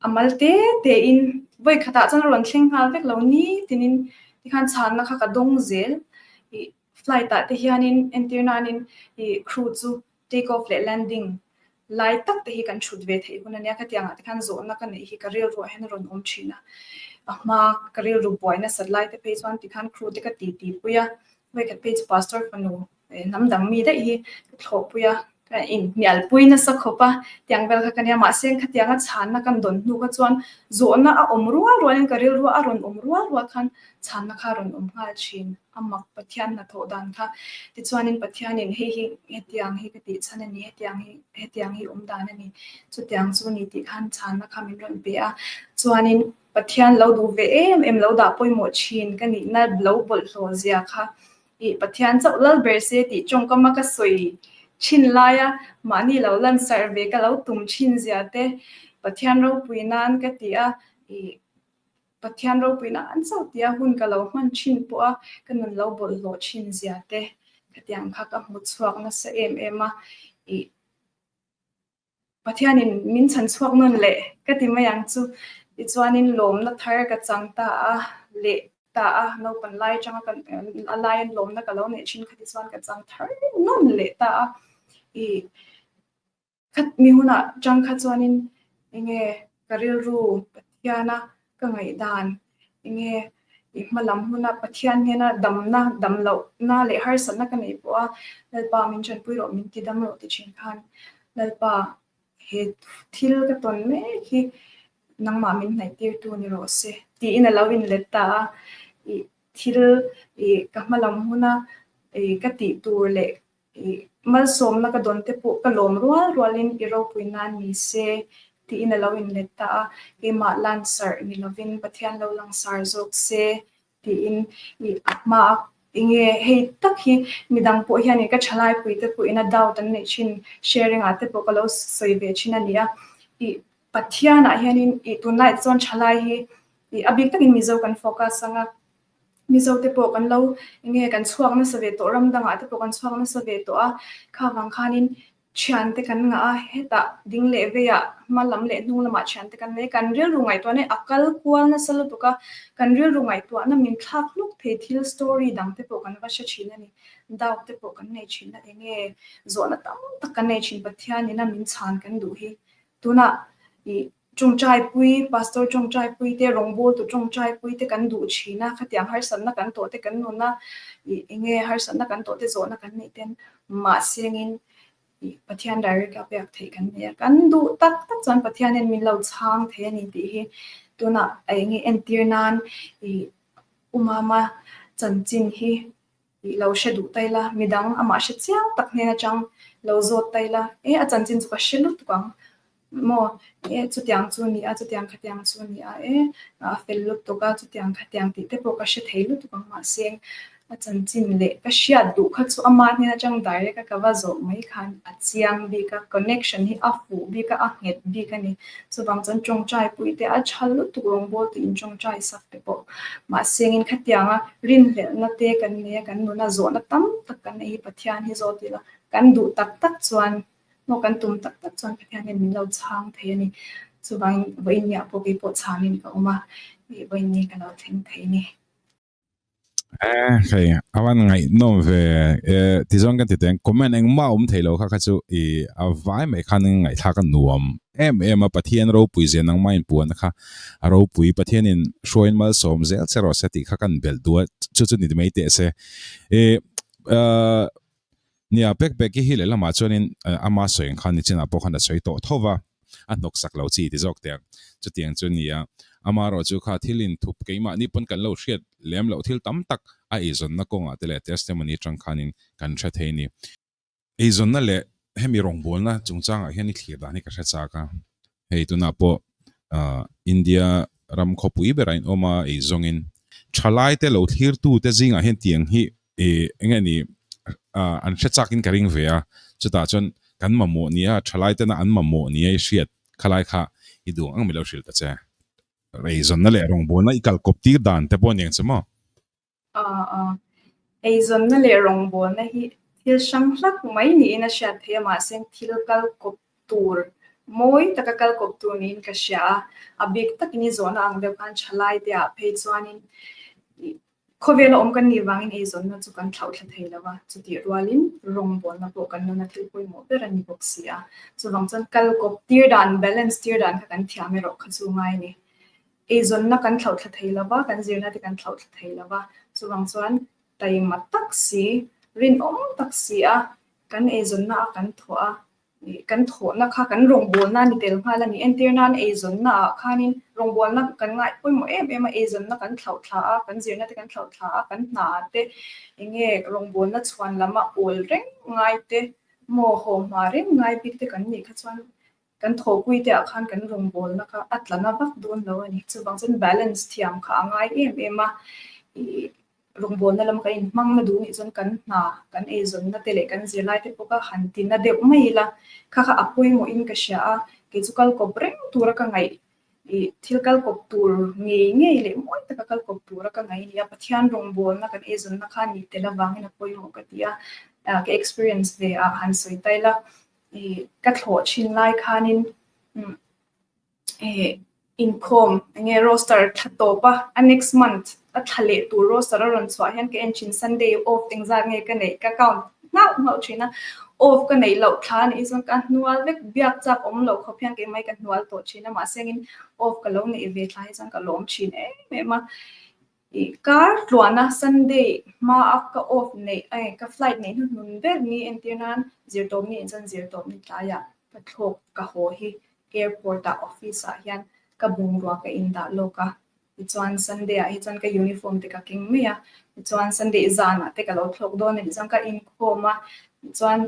a mal te te in voi khatah chuan a rawn thleng nghal vek lo ni tinin tikhan chhanna kha ka dawng zel i Flight ah te hianin entir nain i crew chu take off leh landing lai tak te hi kan thut ve theih hun ania khatiang ah te khan zawhna ka neih hi ka rilru ah hian a rawn awm thin a a hma ka rilru buai na sat lai te phei chuan ti khan crew te ka ti ti pui a hawih khat phei chu pastor fanu hnam dang mi daih hi ka thlawh pui a. Ka inhnialpui nasa khawp a, tiang vel kha ka nia, mahse engkhatianga chhanna kan dawn hnu kha chuan zawhna a awm rual rualin ka rilruah a rawn awm rual rual khan chhanna kha a rawn awm nghal thin a mak Pathian hnathawh dan kha. Tichuanin Pathianin hei hi hetiang hi ka tih chhan a ni, hetiang hi hetiang hi awm dan a ni, chutiang chu a ni tih khan chhanna kha min rawn pe a. Chuanin Pathian lo duh ve em em lo dah pawimawh thin ka nihna lo bawlhhlawh zia kha I Pathian chauh lal ber se tih tawngkama ka sawi thin laia mahni lo lansarh ve ka lo tum thin zia te Pathian ropui nan ka ti a, i Pathian ropui nan chauh tia hun ka lo hman thin pawh a ka nun lo bawlhhlawh thin zia te khatiang kha ka hmu chhuak nasa em em a, i Pathianin min chhan chhuak nawn le ka ti mai ang chu i chuanin lawmna thar ka chang ta a, leh ta a, naupang lai atanga ka a laiin lawmna ka lo neih thin kha tichuan ka chang thar nawn leh ta a, i khat mi hunah chang kha chuanin enge Ka rilru Pathiana ka ngaihdan enge i hma lam huna Pathian hmena damna, dam lohna leh harsatna ka nei pawha Lalpa min ṭanpui rawh, min tidam rawh ti ṭhin khan Lalpa he thil ka tawn mek hi nangmah min hnaihtîrtu ni rawh se tiin a lo inlet ta a, i thil i ka hma lam huna i ka tih tur leh I malsawmna ka dawnte pawh ka lawm rual rualin i ropui nan ni se, tiin a lo inlet ta a, keimah lansarh ni lovin Pathian lo langsar zawk se, tiin i a hma a. Enge hei tak hi midang pawh hianin ka tha laipuite pawhin a doubt an neih thin, sharing ah te pawh ka lo sawi ve thin a nia. I Pathianah hianin i tunlai te chuan thalai hi i a bik takin mizo kan focus anga. Mizo te pawh kan lo enge kan chhuak nasa ve tawh ram dangah te pawh kan chhuak nasa ve tawh a, kha vang khanin thian te kan ngah a, hetah ding leh veiah hma lam leh hnung lamah thian te kan nei. Kan rilru ngaihtuahna hi a kal kual nasa lutuk a, kan rilru ngaihtuahna min thlak hluk thei thil story dang te pawh kan va hre thin a ni, doubt te pawh kan nei thin a, enge zawhna tam tak kan nei thin Pathianin a min chhan kan duh hi tunah i Tawngtaipui, Pastor Tawngtaipui te, Rawngbawitu Tawngtaipui te kan duh thin a, khatiang harsatna kan tawh te kan nun a, ih eng nge harsatna kan tawh te zawhna kan nih ten mahsengin ih Pathian direct a pek theih kan nia, kan duh tak tak chuan Pathianin min lo chhang thei a ni tih hi tunah ih eng nge entir nan ih Umama chanchin hi Tih lo hre duh tail a, midang amah hre chiang tak hnen atang lo zawt tail a, e a chanchin chu ka hre lutuk ang maw e chutiang chu ni a, chutiang khatiang chu ni a e a fel lutuk a, chutiang khatiang tih te pawh ka hre thei lutuk ang mahse a chanchin leh ka hriat duh kha chu ama hnen atang direct a ka va zawh mai khan a chiang bik a, connection hi a fuh bik a, a nghet bik a ni. chuvang chuan tawngtai pui te a tha lutuk rawngbâwl tih in tawngtai sak te pawh mahse eng in khatiang a rinhlelhna te kan nei a kan nuna zawhna tam tak kan nei hi Pathian hi zawt ila kan duh tak tak chuan maw kan tum tak tak chuan Pathian hian min lo chhâng thei a ni chuvangin vawiin nihah pawh kei pawh chhâng in ka awm a vawiin nge ka lo thleng thei a ni. Eh, hei, awan ngai nom ve. Eh, ti zong kan ti teng, comment eng ma um thei lo kha kha chu i avai mai khan ngai thlak a nuam. Em em a pathian ro pui zen nang mai puan kha. A ro pui pathian in hruain mal som zel che ro se ti kha kan bel dual chu chu ni mai te se. Eh, eh, Nia, pek pek i hi leh lamah chuanin ama sawi ang khan nichinah pawh khan a sawi tawh tho va, a hnawk sak lo chi ti zawk teh. Chutiang chu nia, ama erawh chu kha thil inthup keimahni pawn kan lo hriat lem loh thil tam tak a eizawnna kawngah te leh testimony atang khanin kan hre thei a ni. Eizawnna leh hemi rawngbawlna chungchangah hian i thlir dan hi ka hre chak a, Hei tunah pawh India ram khawpui berah in awm a, ei zawngin thalaite lo thlirtute zingah hian tiang hi enge ni an hre chakin ka ring ve a, chutah chuan kan mamawh nia, thalaitena an mamawh nia i hriat khalai kha i duang ang mi lo hrilh ta che. Reizawnna leh rawngbawlna i kalkawp tir dan te pawh a ni ang che maw? Eizawnna leh rawngbawlna hi thil hrang hlak mai niin a hriat theih a, mahse thil kal kawp tur mawi taka kal kawp tur niin ka hria a. A bik takin i zawhna ang deuh khan thalaiteah phei chuanin khawvela awm kan nih vangin eizawnna chu kan thlauh thla thei lo va, chutih rualin rawngbawlna pawh kan nuna thil pawimawh ber a ni bawk si a. Chuvang chuan kal kawp tir dan, balance tir dan kha kan thiam erawh kha chu ngai a ni. Eizawnna kan thlauhthla thei lo va, kan zirna te kan thlauhthla thei lo va, chuvang chuan taima tak si, rinawm tak si a, kan eizawnna a kan thawh a, kan thawhna kha kan rawngbawlna a ni tel nghal a ni. Entir nan eizawnna ah khanin rawngbawlna kan ngaih pawimawh em em a, eizawnna kan thlauhthla a, kan zirna te kan thlauhthla a, kan hna te eng nge rawngbawlna chhuan lama awl reng ngai te, mawhaw hma reng ngai bik te kan nih kha chuan, Kan thawhpui te ah khan kan rawn bawl na kha a tla na vak dawn lo a ni. Chuvang chuan balance thiam kha a ngai em em a. Ih rawn bawl na lam kan in hmang na duh nih chuan kan hna kan ei zawn na te leh kan zirlai te pawh kha han ti na deuh mai ila. Kha kha a pawimawh in ka hria a, kei chu kal kawp reng tur a ka ngaih ih thil kal kawp tur ngei ngei leh mawi taka kal kawp tur a ka ngaih a ni a. Pathian rawn bawl na kan ei zawn na kha ni tel avangin a pawimawh ka ti a. Ka experience ve ah han sawi ta ila. ka thlawh thin lai khanin inkhawm enge roster thla tawp a, a next month a thla leh tur roster a rawn chhuah hian ka en thin Sunday off eng zat nge ka neih ka count nghauh nghauh thin a, off ka neih loh thla a nih chuan ka hnual vek biak chak awm loh khawp hian kei mai ka hnual tawh thin a mahse in off ka lo neih ve thla hi chuan ka lawm thin em em a. Kar tluahna Sunday hmaa ka off neih ai ka flight neih hnu hmun ber ni entir nan zir tawp ni chuan zir tawp ni tlai ah ka thlawk ka haw hi airport ah office ah hian ka bungrua ka in dah lawk a tichuan Sunday ah hi chuan ka uniform te ka keng mai a tichuan Sunday zan ah te ka lo thlawk dawn a nih chuan ka inkhawm a tichuan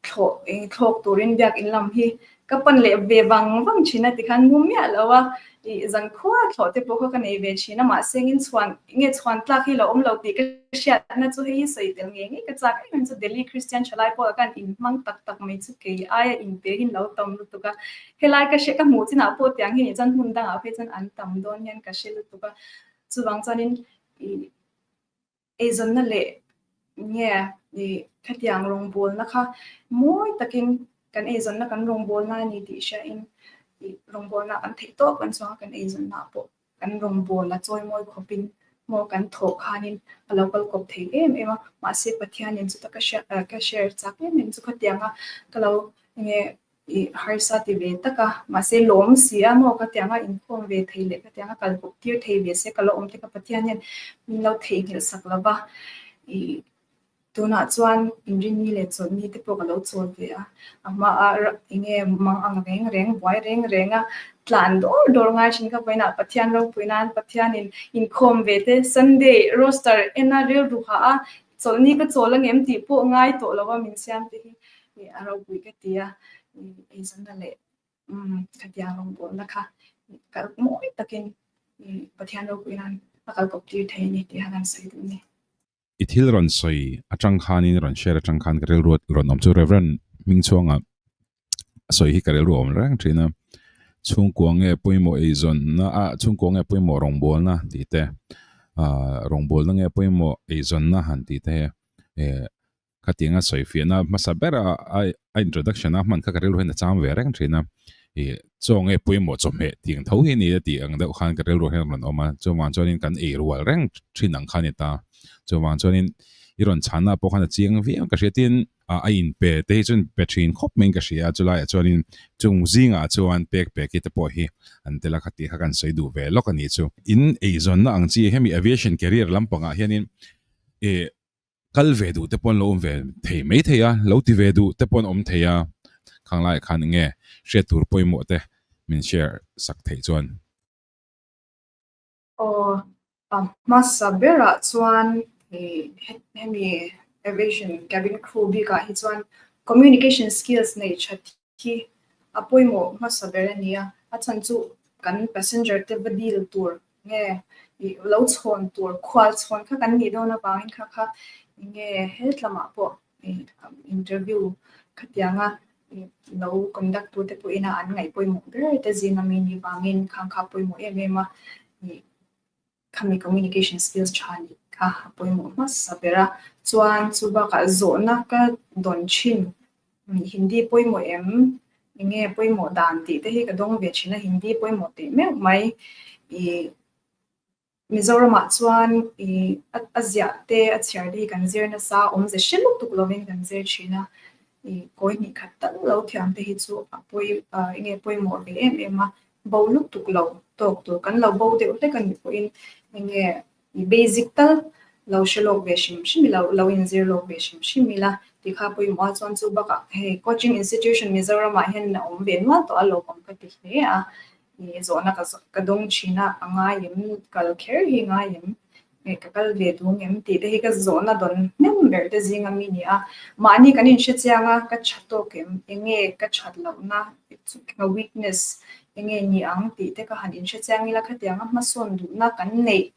Thlawh eng thlawk turin biakin lam hi ka pan leh ve vang vang thin a ti khan mu miah lo a, ih zan khuaa thlawh te pawh kha ka nei ve thin a mahse engin chhuan enge chhuan tlak hi lo awm lo tih ka hriat na chu hei hi sawi tel ngei ngei ka chak em em chu Delhi Christian tha lai pawha kan in hmang tak tak mai chu kei aia in te hi lo tam lutuk a, helai ka hre ka hmuh chin ah pawh tiang hi nih chuan hmun dang ah pawh hi chuan an tam dawn hian ka hre lutuk a, chuvang chuan in ih Eizawnna leh nge i khatiang rawngbawlna kha mawi takin kan eizawnna kan rawngbawlna a ni tih hriain i rawngbawlna kan theih tawp kan chuanga kan eizawnnaah pawh kan rawngbawla a chawi mawi khawpin maw kan thawh khanin a lo kal kawp thei em em a. Mahse Pathianin chuta ka hria ka share chak em em chu khatianga ka lo enge I harsa ti ve tak a, mahse lawm si a maw ka tianga inkhawm ve thei leh ka tianga kal kawp tir thei ve se ka la awm tika Pathian hian min lo theihnghilh sak lo va, i tunah chuan inrinni leh chawlhni te pawh ka lo chawl ve a, a hmaa enge mang ang reng reng buai reng reng a tlan dawr dawr ngai thin ka vawiinah Pathian ropui nan Pathianin inkhawm ve te Sunday roster ena rilru ha a Chawlh ni ka chawl a ngem tih pawh ngai tawh lo a min siam te hi nih a robuih ka ti a nih eizawna leh umm ka tiang rawngbawlna kha nih kal mawi takin nih Pathian robuih hian a kal kawp tir thei a ni tih han han sawi duh ni. I thil rawn sawi atang khanin rawn share atang khan ka rilruat rawn awm chu Rev. Hmingchhuanga a sawi hi ka rilru awm reng thin a chhungkua nge pawimawh eizawnna a chhungkua nge pawimawh rawngbawlna tih te ah rawngbawlna nge pawimawh eizawnna han tih te hi eh khatiang a sawi fiahna hmasa ber a a introduction a hman kha ka rilru hian a cham ve reng thin a eh chaw nge pawimawh chawhmeh tiang tho hi a ni a tih ang deuh khan ka rilru hian rawn awm a chuvang chuan in kan ei rual reng thin ang kha a ni ta chuvang chuan in i rawn chhahna pawh khan a chiang viau ka hria tin ah a in pe te hi chuan pe thin khawp mai in ka hria a, chulai ah chuan in chung zing ah chuan pek pek hi te pawh hi an tel a kha tih kha kan sawi duh ve lawk a ni chu. In ei zawn na ang chi hemi aviation career lam pang ah hian in eh kal ve duh te pawh an lo awm ve thei mai thei a, lo ti ve duh te pawh an awm thei a, khang lai ah khan eng nge hriat tur pawimawh te min share sak theih chuan. Aw, a hmasa berah chuan hemi aviation cabin crew bikah hi chuan communication skills nei tha hi a pawimawh hmasa ber a ni a, a chhan chu kan passenger te va deal tur nge ih lo chhawn tur khual chhawn kha kan nih dawn avangin kha kha enge he tlamah pawh interview khatianga lo conduct tute pawhin a an ngaihpawimawh ber ta zing a mi ni vangin kha kha pawimawh em em a ni khami communication skills tha ni kha pawimawh hmasa ber a chuan chu bakah zawhna ka dawn thin hindi pawimawh em enge pawimawh dan tih te hi ka dawng ve thin a hindi pawimawh teh meuh mai i Mizoramah chuan i a ziah te a chhiar te hi kan zir nasa awmze hre lutuk lovin kan zir thin a, i kawi hnih khat tak lo thiam te hi chu a pawi a enge pawimawh ve em em a, bo lutuk lo tawk tur kan lo bo deuh hlek a nih pawhin enge i basic tal lo hre lawk ve hrim hrim ila lo inzir lawk ve hrim hrim ila ti kha pawimawh a chuan chu bakah hei coaching institution Mizoramah hian in a awm ve nual tawh a lo awm ka ti hle a. Ih zawhna ka zawh ka dawng thin a, a ngai em, kal kher hi ngai em, ih ka kal ve dûng em tih te hi ka zawhna dawn hnem ber te zing a mi ni a, mahni kan inhrechiang a, ka ṭha tawk em, enge ka ṭhat lohna ka weakness enge ni ang tih te ka han inhrechiang ila khatianga hmasawn duhna kan neih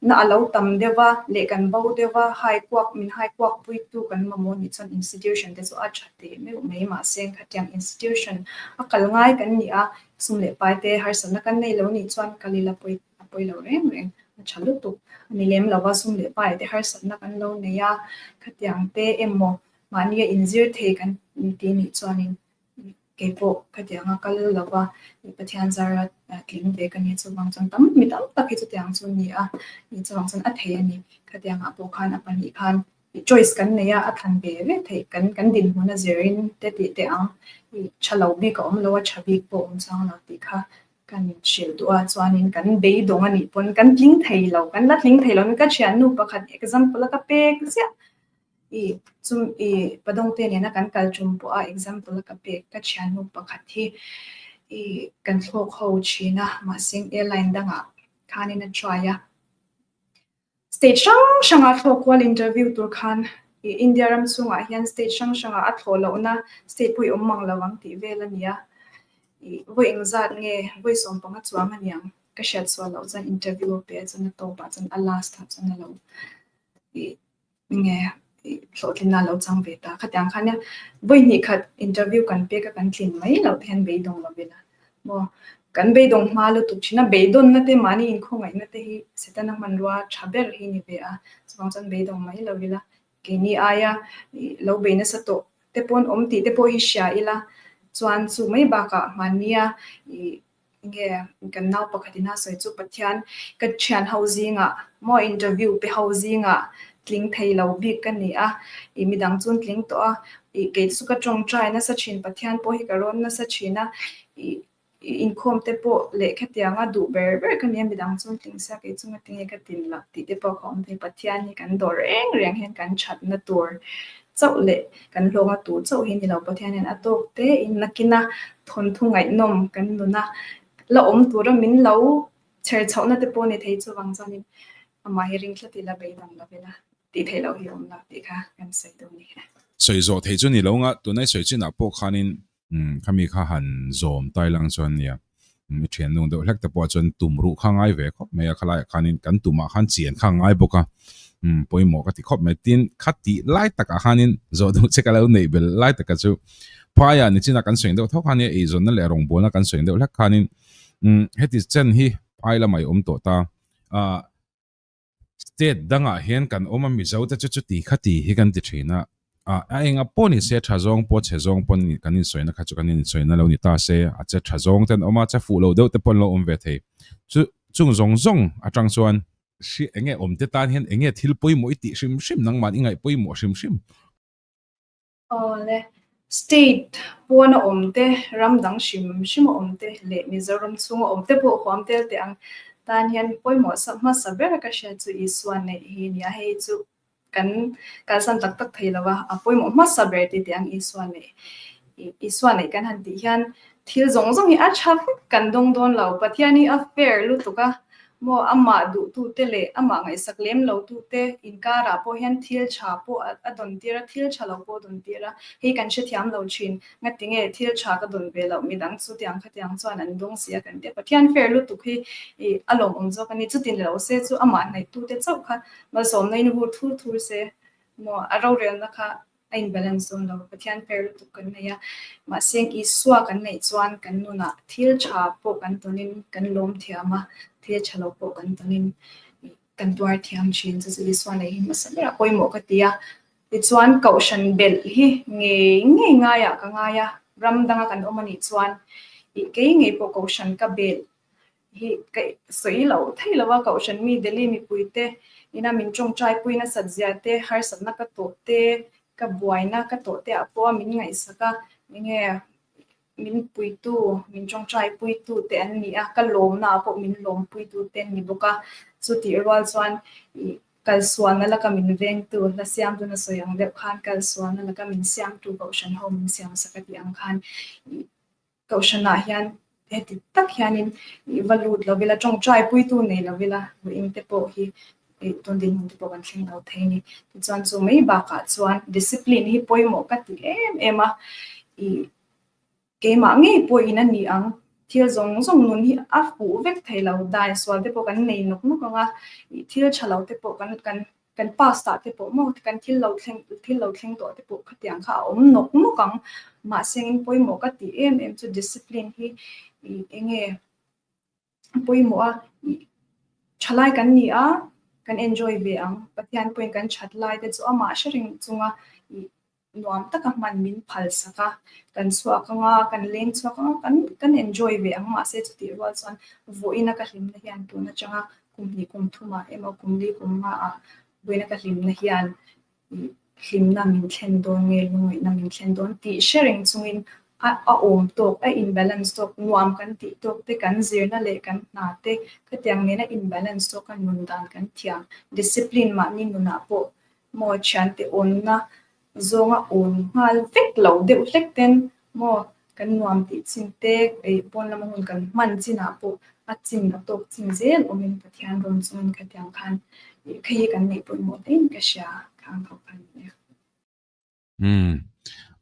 Na a lo tam deuh a, leh kan bo deuh a, hai kuak, min hai kuak puitu kan mamawh nih chuan institution te chu a tha teh meuh mai mahse khatiang institution a kal ngai kan ni a, sum leh pai te harsatna kan nei lo nih chuan kal ila pawi a pawi lo reng reng a tha lutuk a ni lem lo a, sum leh pai te harsatna kan lo nei a, khatiang te emaw mahnia inzir thei kan ti nih chuan in. kei pawh ka ti ang a kal lo a ih pathian zara tling ve ka nih chuvang chuan tam mi tam tak hi chutiang ang chu a ni a ih chuvang chuan a thei a ni khatiang ah pawh khan a pahnih khan ih choice kan nei a a than ve ve theih kan kan dinhmun a zir in te tih teh ang ih tha lo bik a awm lo a tha bik pawh awm chang lo tih kha kan hrilh duh a chuanin kan beidawng a nih pawn kan tling thei lo kan la tling thei lo ka hriatnu pakhat example a ka pek ziah. I chum i padawngte nena kan kal tum pawh a example a ka pek ka thiannu pakhat hi i kan thlawk ho thin a mahseng airline dangah khanin a try a state hrang hranga thlawk kual interview tur khan i India ram chungah hian state hrang hranga a thlawh lohna state pawh i awm mang lo ang tih vel a ni a i vawi eng zat nge vawi sawm panga chuang a niang ka hriat chhuah loh chuan interview a pe a chuan a tawpah chuan a last ah chuan a lo i Enge hlawhtlinna a lo chang ve ta? Khatiang khan nia, vawi hnih khat interview kan pek a, kan tlin mai loh te hian beidawng lo ila maw? Kan beidawng hma lutuk thin a, beidawnna te mahni inkhawngaihtna te hi Satan a hmanrua tha ber hi ni ve a, chuvang chuan beidawng mai lo ila keini aia lo bei nasa tawh te pawn awm tih te pawh hi hria ila chuan chu mai bakah mahnia Nge kan nau pakhat in a sawi chu Pathian ka thian ho zing ah maw interview pe ho zing ah tling thei lo bik ka ni a i midang chun tling tawh a i kei chu ka tawng try nasa thin Pathian pawh hi ka rawn nasa thin a i i inkhawm te pawh leh khetiang a duh ber ber ka ni a midang chun tling sak kei chunga tinge ka tin loh tih te pawh ka awm thei Pathian hi kan dawr reng reng hian kan that na tur chauh leh kan hlawng a tur chauh hi ni lo Pathian hian a tawk te in na kina Thawnthu ngaihnawm kan nuna la awm tura min lo chher chhohna te pawh ni thei chuvang chuanin amah hi ringthla tih la bei dang lovin a tih theih loh hi a awm lo tih kha kan sawi deuh ni e. Sawi zawh thei chu ni lo nga, tuna i sawi chinah pawh khanin khami kha han zawm tailang chuan nia i thianlung deuh hlek te pawha chuan tum ruh kha ngai ve khawp mai a, khalaiah khanin kan tumah khan chian kha a ngai bawk a, pawimawh ka ti khawp mai. Tin, kha tih lai takah khanin zawh duh che ka lo neih belh lai taka chu Phaiah nichina kan seng deuh thawk a nia, eizawnna leh rawngbawlna kan seng deuh hlek khanin heti chen hi phai lamah i awm tawh ta. State dangah hian kan awm a Mizo te chu chuti kha ti hi kan ti thin a, a enga pawh ni se tha zawng pawh chhe zawng pawh kan insawiahna kha chu kan insawi na lo ni ta se, a che tha zawng ten awm a, che fuh loh deuh te pawh an lo awm ve thei. Chu chung zawng zawng atang chuan. Hri enge awmte tan hian enge thil pawimawh i tih hrim hrim nangmah i ngaih pawimawh hrim hrim. Awle, state puan a awm te, ram dang hrim hrim a awm te leh Mizoram chhung a awm te pawh huam tel teh ang tan hian pawimawh sa hmasa ber ka hria chu Isuan neih hi nia hei chu kan kalsan tak tak thei lo va, a pawimawh hmasa ber te teh ang Isuan neih Isuan neih kan han tih hian thil zawng zawng hi a tha vek kan dawng dawn lo Pathian hi a fair lutuk a. Maw amah duhtute leh amah ngaihsak lem lotute inkarah pawh hian thil tha pawh a dawn tir a, thil tha lo pawh a dawn tir a, hei kan hrethiam lo thin, ngatinge thil tha ka dawn ve loh midang chu tiang khatiang chuan an dawng si a kan tih a, Pathian fer lutuk hi a lawmawm zawk a ni, chuti ni lo se chu amah hnaihtu te chauh kha malsawmna in vur thur thur se, maw a rorelna kha a inbalance dawn lo. Pathian per lutuk kan nei a, mahse Isua kan neih chuan kan nuna thil tha pawh kan tawnin kan lawm thiam a, thil tha lo pawh kan tawnin kan tuar thiam thin. Chu chu Isua nei hi hmasa ber a pawimawh ka ti a. Tichuan kohhran belh hi ngei ngei ngaiah ka ngai a, ram danga kan awm a nih chuan ih kei ngei pawh kohhran ka belh hi kaih sawi lo thei lo a, Kohhran mi Delhi mipui te ina min tawngtai pui nasat zia te, harsatna ka tawh te, ka buaina ka tawh te ah pawha min ngaihsak a, enge min puitu, min tawngtai puitu te an ni a, ka lawmna ah pawh min lawm puitu te an ni bawk a, chu tih rual chuan ih kalsuahna la ka min veng tu la siam dun a sawi ang deuh khan kalsuahna la ka min siam tu Kohhran ho min siam sak a tih ang khan ih Kohhranah hian heti tak hianin ih va lut lo vela, tawngtai puitu nei lo vela ruihing te pawh hi ih tun dinhmun te pawh kan thleng lo thei a ni. Tichuan chu mai bakah chuan discipline hi pawimawh ka ti em em a, ih keimah ngei pawhin a ni ang, thil zawng zawng nun hi a hmuh vek thei lo, dan sual te pawh kan nei nawk nawk ang a, ih thil tha lo te pawh kan kan Kan past ah te pawh maw kan thil lo thleng thil lo thleng tawh te pawh khatiang kha a awm nawk nawk ang mahse in pawimawh ka tih em em chu discipline hi i enge pawimawh a i thalai kan ni a kan enjoy ve ang Pathian pawhin kan that lai te chu amah hre ringchunga i nuam taka hman min phal sak a, kan chhuak ang a, kan leng chhuak ang a, kan kan enjoy ve ang mah se chutih rual chuan vawiina ka hlimna hian tun atanga kum hnih kum thumah emaw kum li kum hmaah vawiina ka hlimna hian hlimna min thlen dawn nge lungawihna min thlen dawn tih hre reng chungin a a awm tawk a imbalance tawk nuam kan tih tawk te kan zirna leh kan hna te khatiang nena imbalance tawk a nun dan kan thiam discipline mahni nunah pawh Maw thiante unna zawnga un nghal vek lo deuh hlek ten maw kan nuam tih chin te ei pawn lama hun kan hman chinah pawh a chin a tawk chin zel awmin Pathian rawn chungin ka tiang khan ih kha hi kan neih pawimawh tlein ka hria kha ang tho khan nia. Umm.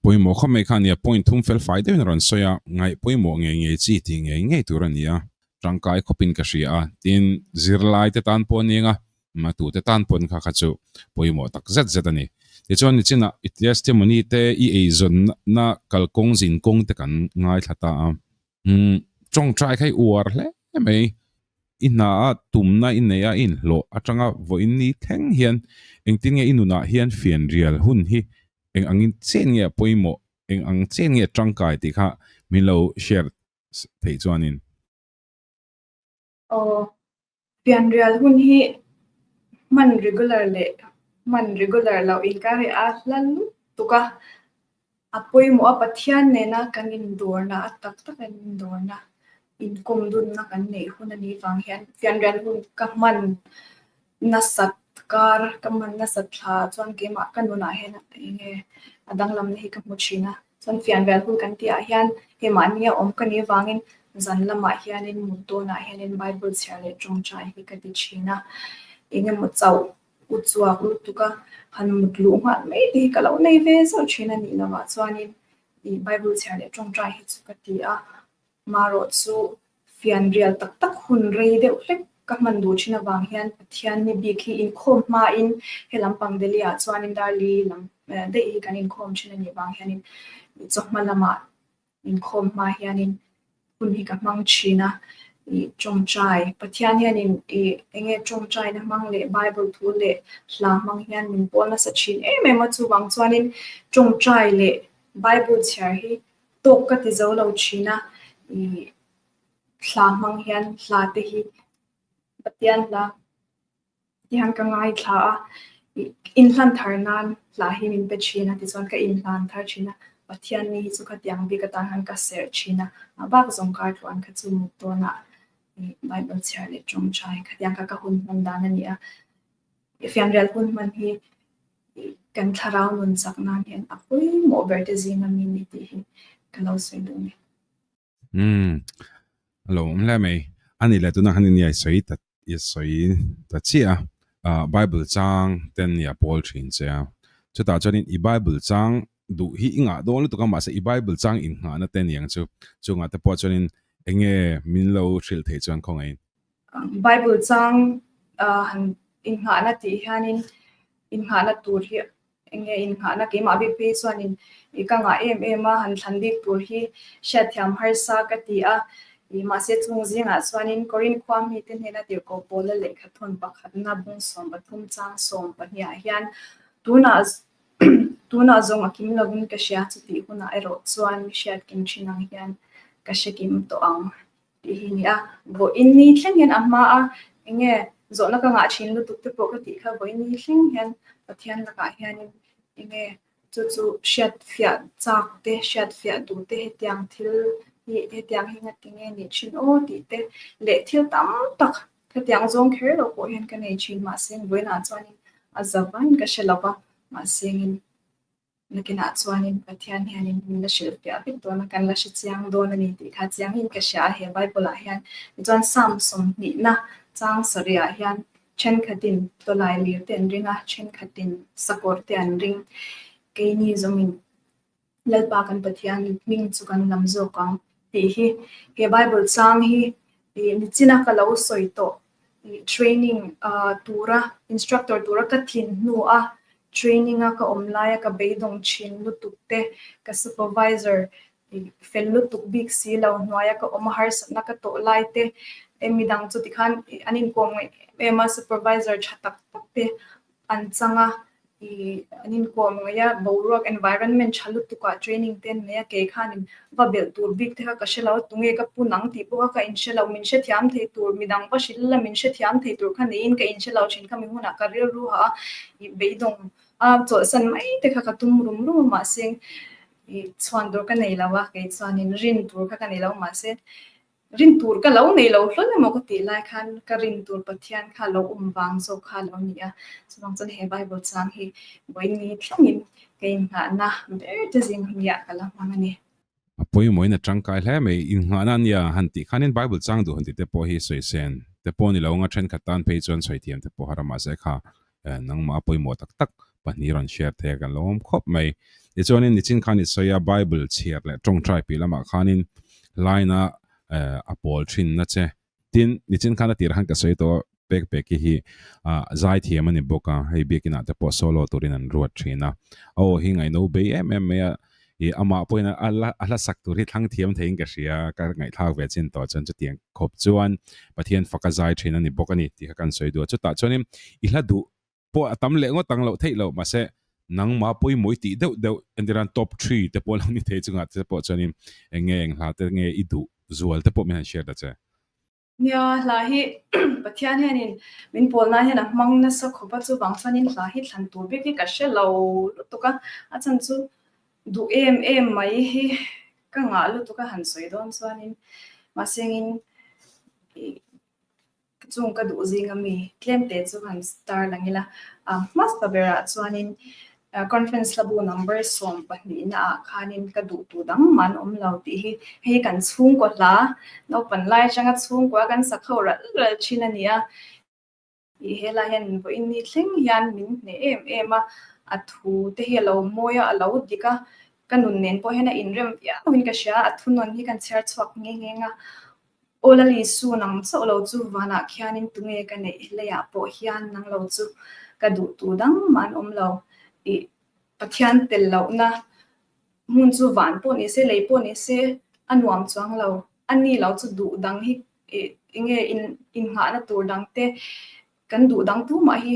Pawimawh khawp mai kha nia point thum fel fai deuhin a rawn sawi a, ngaih pawimawh ngei ngei chi tih ngei ngei tur a ni a, tangkai khawpin ka hria a, tin, zirlaite tan pawh a ni ang a, mah tute tan pawn kha kha chu pawimawh tak zet zet a ni. Tichuan nichinah i testimony te i eizawnna kalkawng zin kawng te kan ngaithla ta a, Tawngtai kha i uar hle mai. I hna a tumna i neih a i inhlawh atanga vawiin ni thleng hian engtin nge i nunah hian fianrial hun hi eng angin chen nge a pawimawh, eng ang chen nge a tangkai tih kha min lo share theih chuanin. Aw, fianrial hun hi hman regular leh hman regular loh inkar leh a hla lutuk tuka a pawimawha Pathian nena kan indawrna a tak tak in indawrna inkawmdunna kan neih hun anih vang hian fianrial hun ka hman Nasat kar ka man nasat thla chuan keimah ka nunah hian eng nge a danglamna hi ka hmu thin a, chuan Fianrial hul kan tihah hian hei mahni a awm ka nih avangin zan lamah hianin mut dawnah hianin Bible chhiar leh tawngtai hi ka ti thin a, eng emaw chauh u chhuak lutuka han mut luh nghal mai te hi ka lo nei ve zauh thin a nih loh ah chuanin i Bible chhiar leh tawngtai hi chu ka ti a, Marawh chu fianrial tak tak hun rei deuh hlek ka hman duh thin avang hian Pathian ni bik hi inkhawm hmain he lam pang Delhi ah chuanin Darli lam daih hi kan inkhawm thin a nih vang hianin ih chaw hma lama inkhawm hma hianin hun hi ka hmang thin a, ih tawngtai Pathian hianin ih enge tawngtaina hmang leh Bible thu leh hla hmang hian min pawl nasa thin em em a chuvang chuanin tawngtai leh Bible chhiar hi Tawk ka ti zo lo thin a, ih thla hmang hian hla te hi Pathian la, tihian ka ngai thla a, ih in hlan thar nan hla hi min pe thin a tichuan ka in hlan thar thin a, Pathian ni hi chu ka tiang bik atan khan ka serh thin a, a bak zawng kar tluah an kha chu mut dawn a, ih Bible chhiar leh ṭawngṭai khatiang kha ka hun hman dan a ni a, fianrial hun hman hi. kan thlarau nun chak nan hian a pawimawh ber te zing a mi ni tih hi ka lo sawi duh mai. Umm a lo awm hle mai a ni le tunah hian in i sawi ta i sawi ta chiah a ah bible chang ten nia pawl thin che a chutah chuan in i bible chang duh hi i ngah dawn lutuk a mahse i bible chang in nghah na te niang chu chungah te pawh chuan in enge min lo hrilh theih chuan khawngaih in Bible chang han innghahna tih hianin innghahna tur hi eng nge innghahna keimah bik phei chuanin i ka ngah em em a han thlan bik tur hi hriatthiam harsa ka ti a i mahse chung zingah chuanin Korin khua mite hnena tirhkoh pawla lehkha thawn pakhatna bung sawm pathum chang sawm pahniha hian tunah tunah zawng a kim lovin ka hria chutih hunah erawh chuan hriatkim thin ang hian ka hrekim tawh ang. Tih hi ni a, vawiin ni thleng hian a hma a, enge zawhna ka ngah thin lutuk te pawh ka tih kha vawiin ni thleng hian Pathian lakah hianin enge chu chu hriatfiah chak te, hriatfiah duh te hetiang thil hi hetiang hi ngati nge ni thin aw tih te leh thil tam tak khatiang zawng kher lo pawh hian ka nei thin mahse vawiinah chuanin a za vain ka hre lo va, mahse ngin. Biakinah chuanin Pathian hianin min la hrilh piah vek dawnah kan la hrechiang dawn a ni tih kha chiangin ka hria a, he Bible-ah hian. Tichuan Salm sawmhnihna chang sarihah hian, Thenkhatin tawlai lirte an ring a, thenkhatin sakawrte an ring. Keini zawngin Lalpa kan Pathian hming chu kan lam zawk ang tih hi he Bible chang hi nichin a ka lo sawi tawh training tura instructor tura ka thin hnu a training a ka awm laia ka beidawng thin lutuk te ka supervisor fel lutuk bik si lo hnuaia ka awm a harsatna ka tawh lai te hemi dang chu tikhan an inkawm ngei em em a supervisor tha tak tak te an chang a, i an inkuah ngawih a, boruak environment tha lutukah training te an nei a, kei khanin va belh tur bik te kha ka hre lo, tunge ka pun ang tih pawh kha ka inhre lo, min hrethiam thei tur midang va hril ila min hrethiam thei tur kha neiin ka inhre lo thin kha mi hunah ka rilru ha a, i beidawng a chawlhsan mai te kha ka tum rum rum a mahse, i chhuan tur ka nei lo a, kei chuanin rin tur kha ka nei lo mahse, Rin tur ka lo nei lo hlawn emaw ka tih lai khan ka rin tur Pathian kha lo awm vang zawk kha lo ni a. Chuvang chuan he Bible chang hi vawiin ni thlengin ka innghahna ber che zing nia ka la hmang a ni. A pawimawhin a tangkai hle mai. Innghahna nia han tih khanin Bible chang duh han tih te pawh hi sawi sen te pawh a ni lo ang a, thenkhat tan phei chuan sawi thiam te pawh haram mahse kha nangma pawimawh tak tak pahnih rawn share theih a kan lo awm khawp mai. Tichuanin nichin khan i sawi a Bible chhiar leh tawngtai pi lamah khanin line-a a pawl thin na che. Tin, nichin khan a tirah khan ka sawi tawh a, pek pek hi hi zai thiam a ni bawk a, hei biakinah te pawh solo turin an ruat thin a. Aw, hi ngaihno bei em em mai a. I amah pawhin a a la a hlasak tur hi thlangthiam theiin ka hria a, ka ngaihthlak ve chin tawh chuan chutiang khawp chuan Pathian fa ka zai thin a ni bawk a ni tih kha kan sawi duh a, chutah chuanin i hla duh pawh a tam leh ngawt ang loh theih lo mahse, nangma pawimawh i tih deuh deuh entir a, top three te pawh lo ni thei chungah te pawh chuanin eng nge eng hla te nge i duh zual te pawh min han hriat ta che. Nia, hla hi Pathian hianin min pawl nan hian a hmang nasa khawpa chuvang chuanin hla hi thlan tur vek hi ka hre lo lutuk a, a chan chu duh em em mai hi ka ngah lutuk a han sawi dawn chuanin mahsengin ka chung ka duh zing ami tlem te chu han star lang ila a hmasa berah chuanin Conference labu number sawm pahnih naah khanin ka duh tu dang man awm lo tih hi hei kan chhungkaw hla naupan lai atanga chhungkua kan sakho ral ral thin a nia. Ih helai hian min vawiin ni thleng hian min hneh em em a, a thu te hi a lo mawi a, a lo dik a, ka nun nen pawh hian a inrem viau in ka hria, a thunawn hi kan chhiar chhuak nghe nghe nga Aw Lali su nang chauh lo chu vanah khianin tunge ka neih leiah pawh hian nang lo chu ka duh tu dang mah an awm lo i Pathian tel lohna hmun chu van pawh ni se lei pawh ni se a nuam chuang lo a ni lo chu duh dang hi i nge in inghahna tur dangte Kan duh dang tu mah hi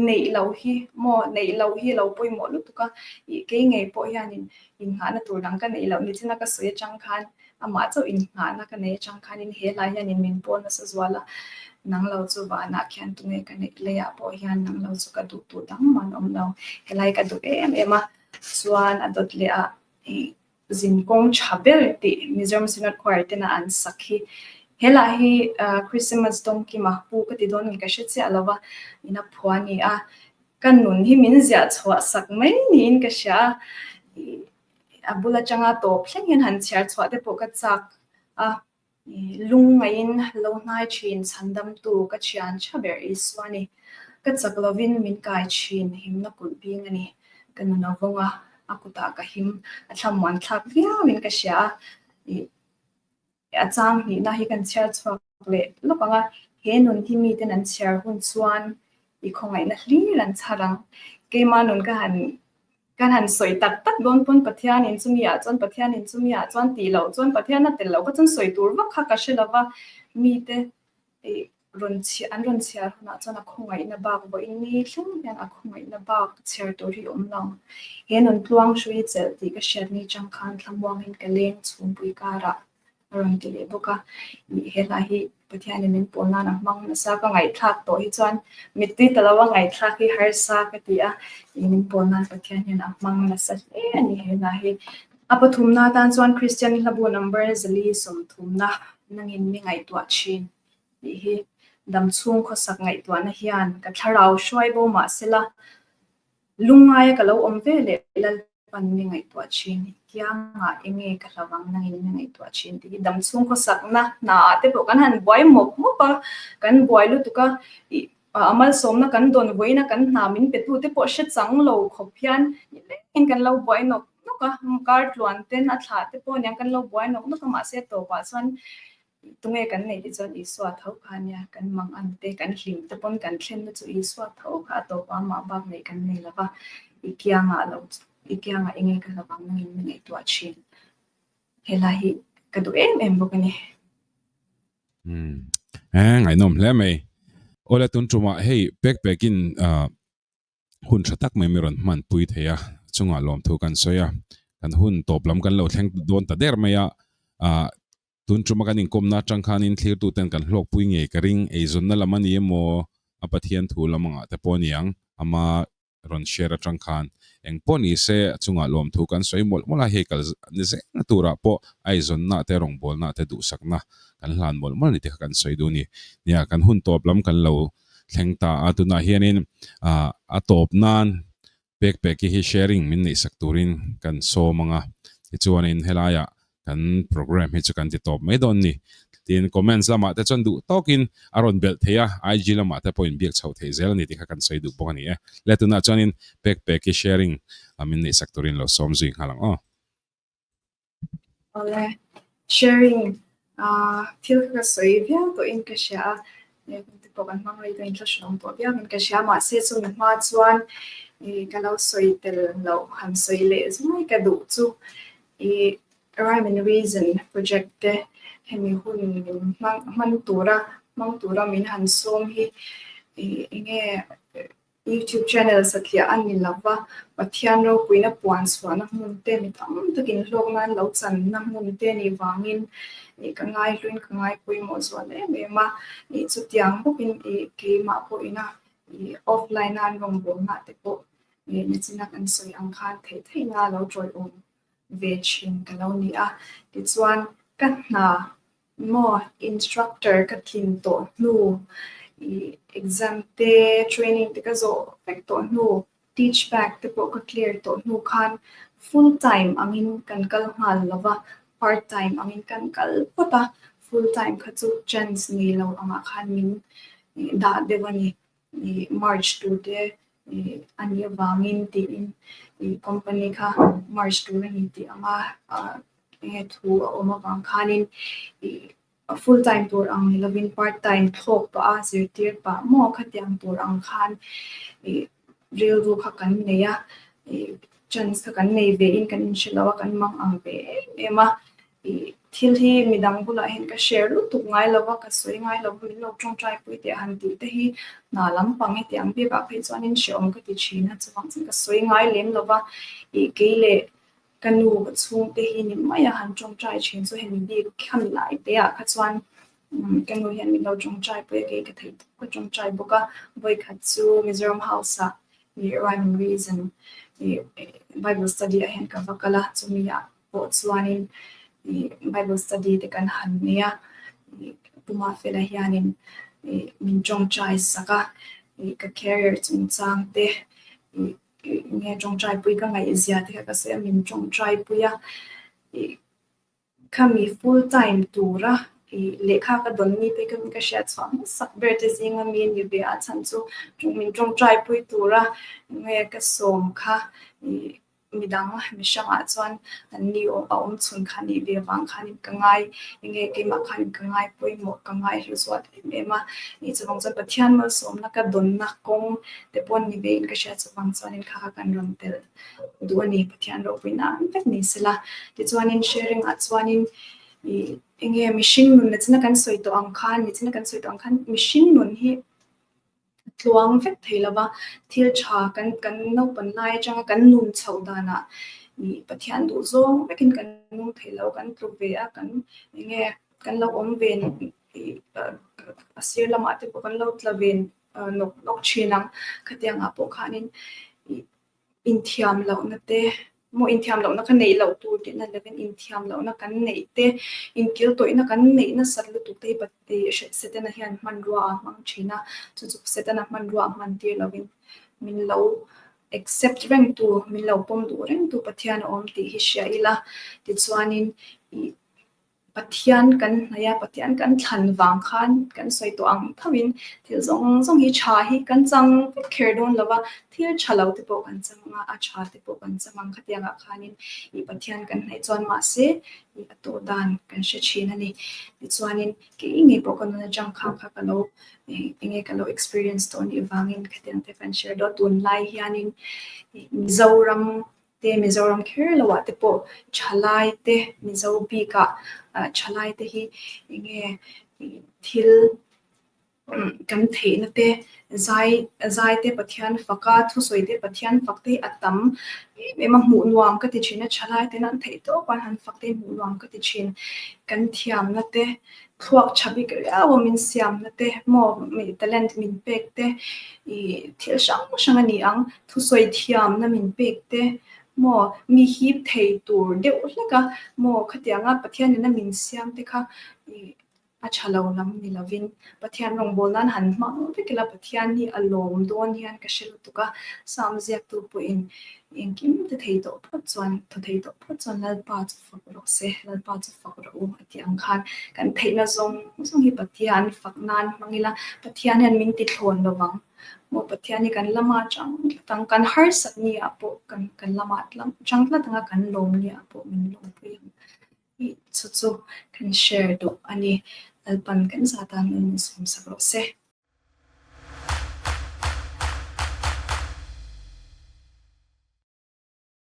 neih lo hi maw, neih lo hi lo pawimawh lutuk a, ih kei ngei pawh hianin innghahna tur dang ka neih loh ni china ka sawi atang khan amah chauh innghahna ka nei atang khanin he lai hianin min pawn nasa zual a, nang lo chu vanah khian tunge ka neih leiah pawh hian nang lo chu ka duh duh dang man awm lo, he lai ka duh em em a chuan a dawt leh ah ih zin kawng tha ber tih Mizoram Synod Choir tena an sak hi helah hi Christmas Dawngkim a pu ka ti dawn ni ka hre chiah lova ina phua ni a ka nun hi min ziah chhuah sak mai niin ka hria a a bul atanga tawp thleng hian han chhiar chhuah te pawh ka chak a Lungngaiin lo hnai thin chhandamtu ka thian tha ber Isua ni. Ka chak lovin min kai thin himna kulh bing a ni. Ka nuno vawnga a kutah ka him a thlamuan thlak viauin ka hria a. I a chang hnihna hi kan chhiar chhuak leh lawk ang a, he nun hi miten an chhiar hun chuan i khawngaihna hlir an chhar ang. Keimah nun ka han Kan han sawi tak tak dawn pawn Pathianin chumi ah chuan Pathianin chumi ah chuan tih loh chuan Pathian a tel loh kha chuan sawi tur vak kha ka hre lova mite i rawn chhiar an rawn chhiar hunah chuan a khawngaihna bak vawiin ni thleng hian a khawngaihna bak chhiar tur hi awm lo he nun tluang hrui chelh tih ka hriat ni chang khan thlamuangin ka leng chhungpui karah a rawn ti leh bawk a, ih helai hi Pathian in min pawn nan ah hmang nasa ka ngaihthlak tawh hi chuan mitui ta lo a ngaihthlak hi harsa ka ti a, ih min pawn nan Pathian hian a hmang nasa hle a ni helai hi. A pathum na tan chuan Christian i hlabu number zali sawmthum na nang in ni ngaihtuah thin tih hi dam chhung khawsak ngaihtuah na hian ka thlarau hruai bo mah se la, Lungngaia ka lo awm ve leh Lalpan mi ngaihtuah thin hi kianga enge ka hlau ang nangin mi ngaihtuah thin tih hi dam chhung khawsakna hnaah te pawh kan han buai mawp mawp a, kan buai lutuk a, ih a malsawmna kan dawn vawiin a kan hna min pe tute pawh hre chang lo khawp hian nilengin kan lo buai nawk nawk a, kar tluan ten a thlah te pawh aniang kan lo buai nawk nawk a mahse tawpah chuan Tunge kan neih tih chuan Isua tho kha ania, kan mang ang te, kan hlim te pawn kan thlenna chu Isua tho kha a tawpa amah bak neih kan nei lova, i kiangah lo, i kiangah enge ka hlo ang nangin min ngaihtuah thin. Helai hi ka duh em em bawk ani. Hmm. He, ngaihnawm hle mai. Ola tun tumah hei pek pekin uh, hun tha tak mai mai rawn hman pui thei a, chunga lawmthu kan sawi a, kan hun tawp lam kan lo thleng dawn ta der mai a, ah tun tuma kan inkawmna atang khanin thlirtu ten kan hlawk pui ngei ka ring, eizawnna lam a ni emaw a Pathian thu lam angah te pawh a niang ama rawn share atang khan eng pawh ni se chunga lawmthu kan sawi mawlh mawlh a, hei kal ni zeng turah pawh aizawnna te rawngbawlna te duhsakna kan hlan mawlh mawlh a ni tih kha kan sawi dun a ni, nia kan hun tawp lam kan lo thleng ta a, tunah hianin a tawp nan pek pek hi sharing min neih sak turin kan sawm ang a, tichuanin helaiah kan programme hi chu kan ti tawp mai dawn a ni. Tin, comments lamah te chuan duh tawkin a rawn belh thei a, IG lamah te pawhin biak chhoh theih zel a ni tih kha kan sawi duh bawk a ni e. Le tunah chuanin pek pek hi sharing min neih sak turin lo sawm zui nghal ang aw. Awle, sharing a thil kha ka sawi viau pawhin ka hria a, e hmingte pawh kan hmang rei dawn in thla hre awm pawh viauin ka hria a, mahse chumi hma chuan i ka lo sawi tel loh han sawi leh zui ka duh chu i rhyme and reason project te hemi hun min hman hman tura hmang tura min han sawm hi i enge. YouTube channel satliah a ni lo va, Pathian ropuina puan suahna hmun te mi tam tak inhlawk nan lo channa hmun te nih vangin i ka ngaihluin ka ngai pawimawh zual em em a, i chutiang bawkin i keimah pawhina i offline a an rawn bawm nghah te pawh i nizina kan sawi ang khan thei theihna lo tawlhawm ve thin ka lo ni a, tichuan ka hna Maw instructor ka thlin tawh hnu i exam te training te ka zawh vek tawh hnu teach back te pawh ka clear tawh hnu khan full time angin kan kal nghal lo va part time angin kan kal phawt a full time kha chu chance nei lo angah khan min dah deuh a ni March tute a nih avangin tiin company kha March tur a ni tih ang a, enge thu a awm avang khanin full time tur ang ni lovin part time thawk pah a, zirtir pah maw kha tiang tur ang khan rilru kha kan nei a, chance kha kan nei ve in kan inhre lo a, kan mang ang ve em em a. Thil hi midang bulah hian ka share lutuk ngai lo a, ka sawi ngai lo a, min lo tawngtai pawh i teh a han tih te hi hna lampang i teh ang biak ah phei chuanin hrehawm ka ti thin a, chuvang chin ka sawi ngai lem lo va, ih kei leh ka nu chhung te hi ni mai a han tawngtai thin chu hemi bik khami lai te ah kha chuan ka nu hian min lo tawngtai pawh i kei ka theih tawh ka tawngtai bawk a, vawi khat chu Mizoram House ah ih rhyme and reason ih Bible study ah hian ka va kal a, chumi ah pawh chuanin Bible study te kan han nei a, Puma Fela hianin min tawngtai sak a, ka career chungchang te, enge tawngtaipui ka ngaihzia te kha ka sawi a, min tawngtaipui a, khami full time tura lehkha ka dawn mi te kawngin ka hria chhuah hmasak ber te zinga mi ani ve a chhan chu min tawngtaipui tura nge ka sawm kha Midang mi hrangah chuan kan ni awm a awm chhun kha nih ve vang khanin ka ngai enge keimah khanin ka ngai pawimawh ka ngai hluzuat em em a ni chuvang chuan Pathian malsawmna ka dawnna kawng te pawh ni ve in ka hria chuvang chuanin kha kha kan rawn tel duh a ni Pathian ropui nan vek ni se la tichuanin sharing ah chuanin ih enge mihring nun na china kan sawi tawh ang khan ni china kan sawi tawh ang khan mihring nun hi tluang vek thei lo va, thil tha kan kan naupan lai atanga kan nun chhoh danah ih Pathian duhzawng vekin kan nung thei lo, kan tlu ve a, kan eng nge kan lo awm ve a sir lamah te pawh kan lo tla ve nawk nawk thin ang, khatiang ah pawh khanin ih. inthiam lohna te maw inthiam lohna kha neih loh tur tihna leh in inthiam lohna kan neih te inkilh tawihna kan neih nasat lutuk te hi pate Setana hian hmanrua a hmang thin a chu chu Setana hmanrua a hman tir lovin min lo accept reng tu min lo pawm duh reng tu Pathian a awm tih hi hria ila tichuanin ih-- Pathian kan hnaih a, Pathian kan thlan vang khan kan sawi tawh ang thauhin thil zawng zawng hi tha hi kan chang vek kher dawn lo va, thil tha lo te pawh kan chang a, a tha te pawh kan chang ang khatiang ah khanin i Pathian kan hnaih chuan mahse i a tawh dan kan hre thin a ni. Tichuanin kei nge pawh ka nun atang khan kha ka lo enge ka lo experience tawh anih vangin khatiang te kan share dawn a, tunlai hianin Mizoram te Mizoram kher lo ah te pawh thalai te Mizo bik ah thalai te hi enge thil kan theih na te zai zai te Pathian fak a thusawi te Pathian fak te a tam em em a hmuh nuam ka ti thin a thalai ten an theih tawp a han fak te hmuh nuam ka ti thin kan thiam na te Thluak tha bik riaua min siamna te, maw mi talent min pek te, ih thil hrang hrang a ni ang. Thusawi thiamna min pek te, maw mi hip thei tur deuh hlek a, maw khatiang a Pathian in a min siam te kha ih a tha lo lam ni lovin Pathian rawngbâwl nan han hmang vek ila Pathian hi a lawm dawn hian ka hre lutuk a, Psalm ziaktu pawhin engkim te thei tawh phawt chuan, tha thei tawh phawt chuan Lalpa chu fak rawh se, Lalpa chu fak rawh u. Ti ang khan kan theihna zawng zawng hi Pathian an fak nan hmang ila, Pathian hian min ti thlawn lo vang. Maw Pathian hi kan lama chang tlat ang, kan harsat ni ah pawh kan kan lama chang tlat ang a, kan lawm ni ah pawh min lawm pui ang. Hi chu chu kan share duh a ni. Lalpan kan za tan in min sawm sak rawh se.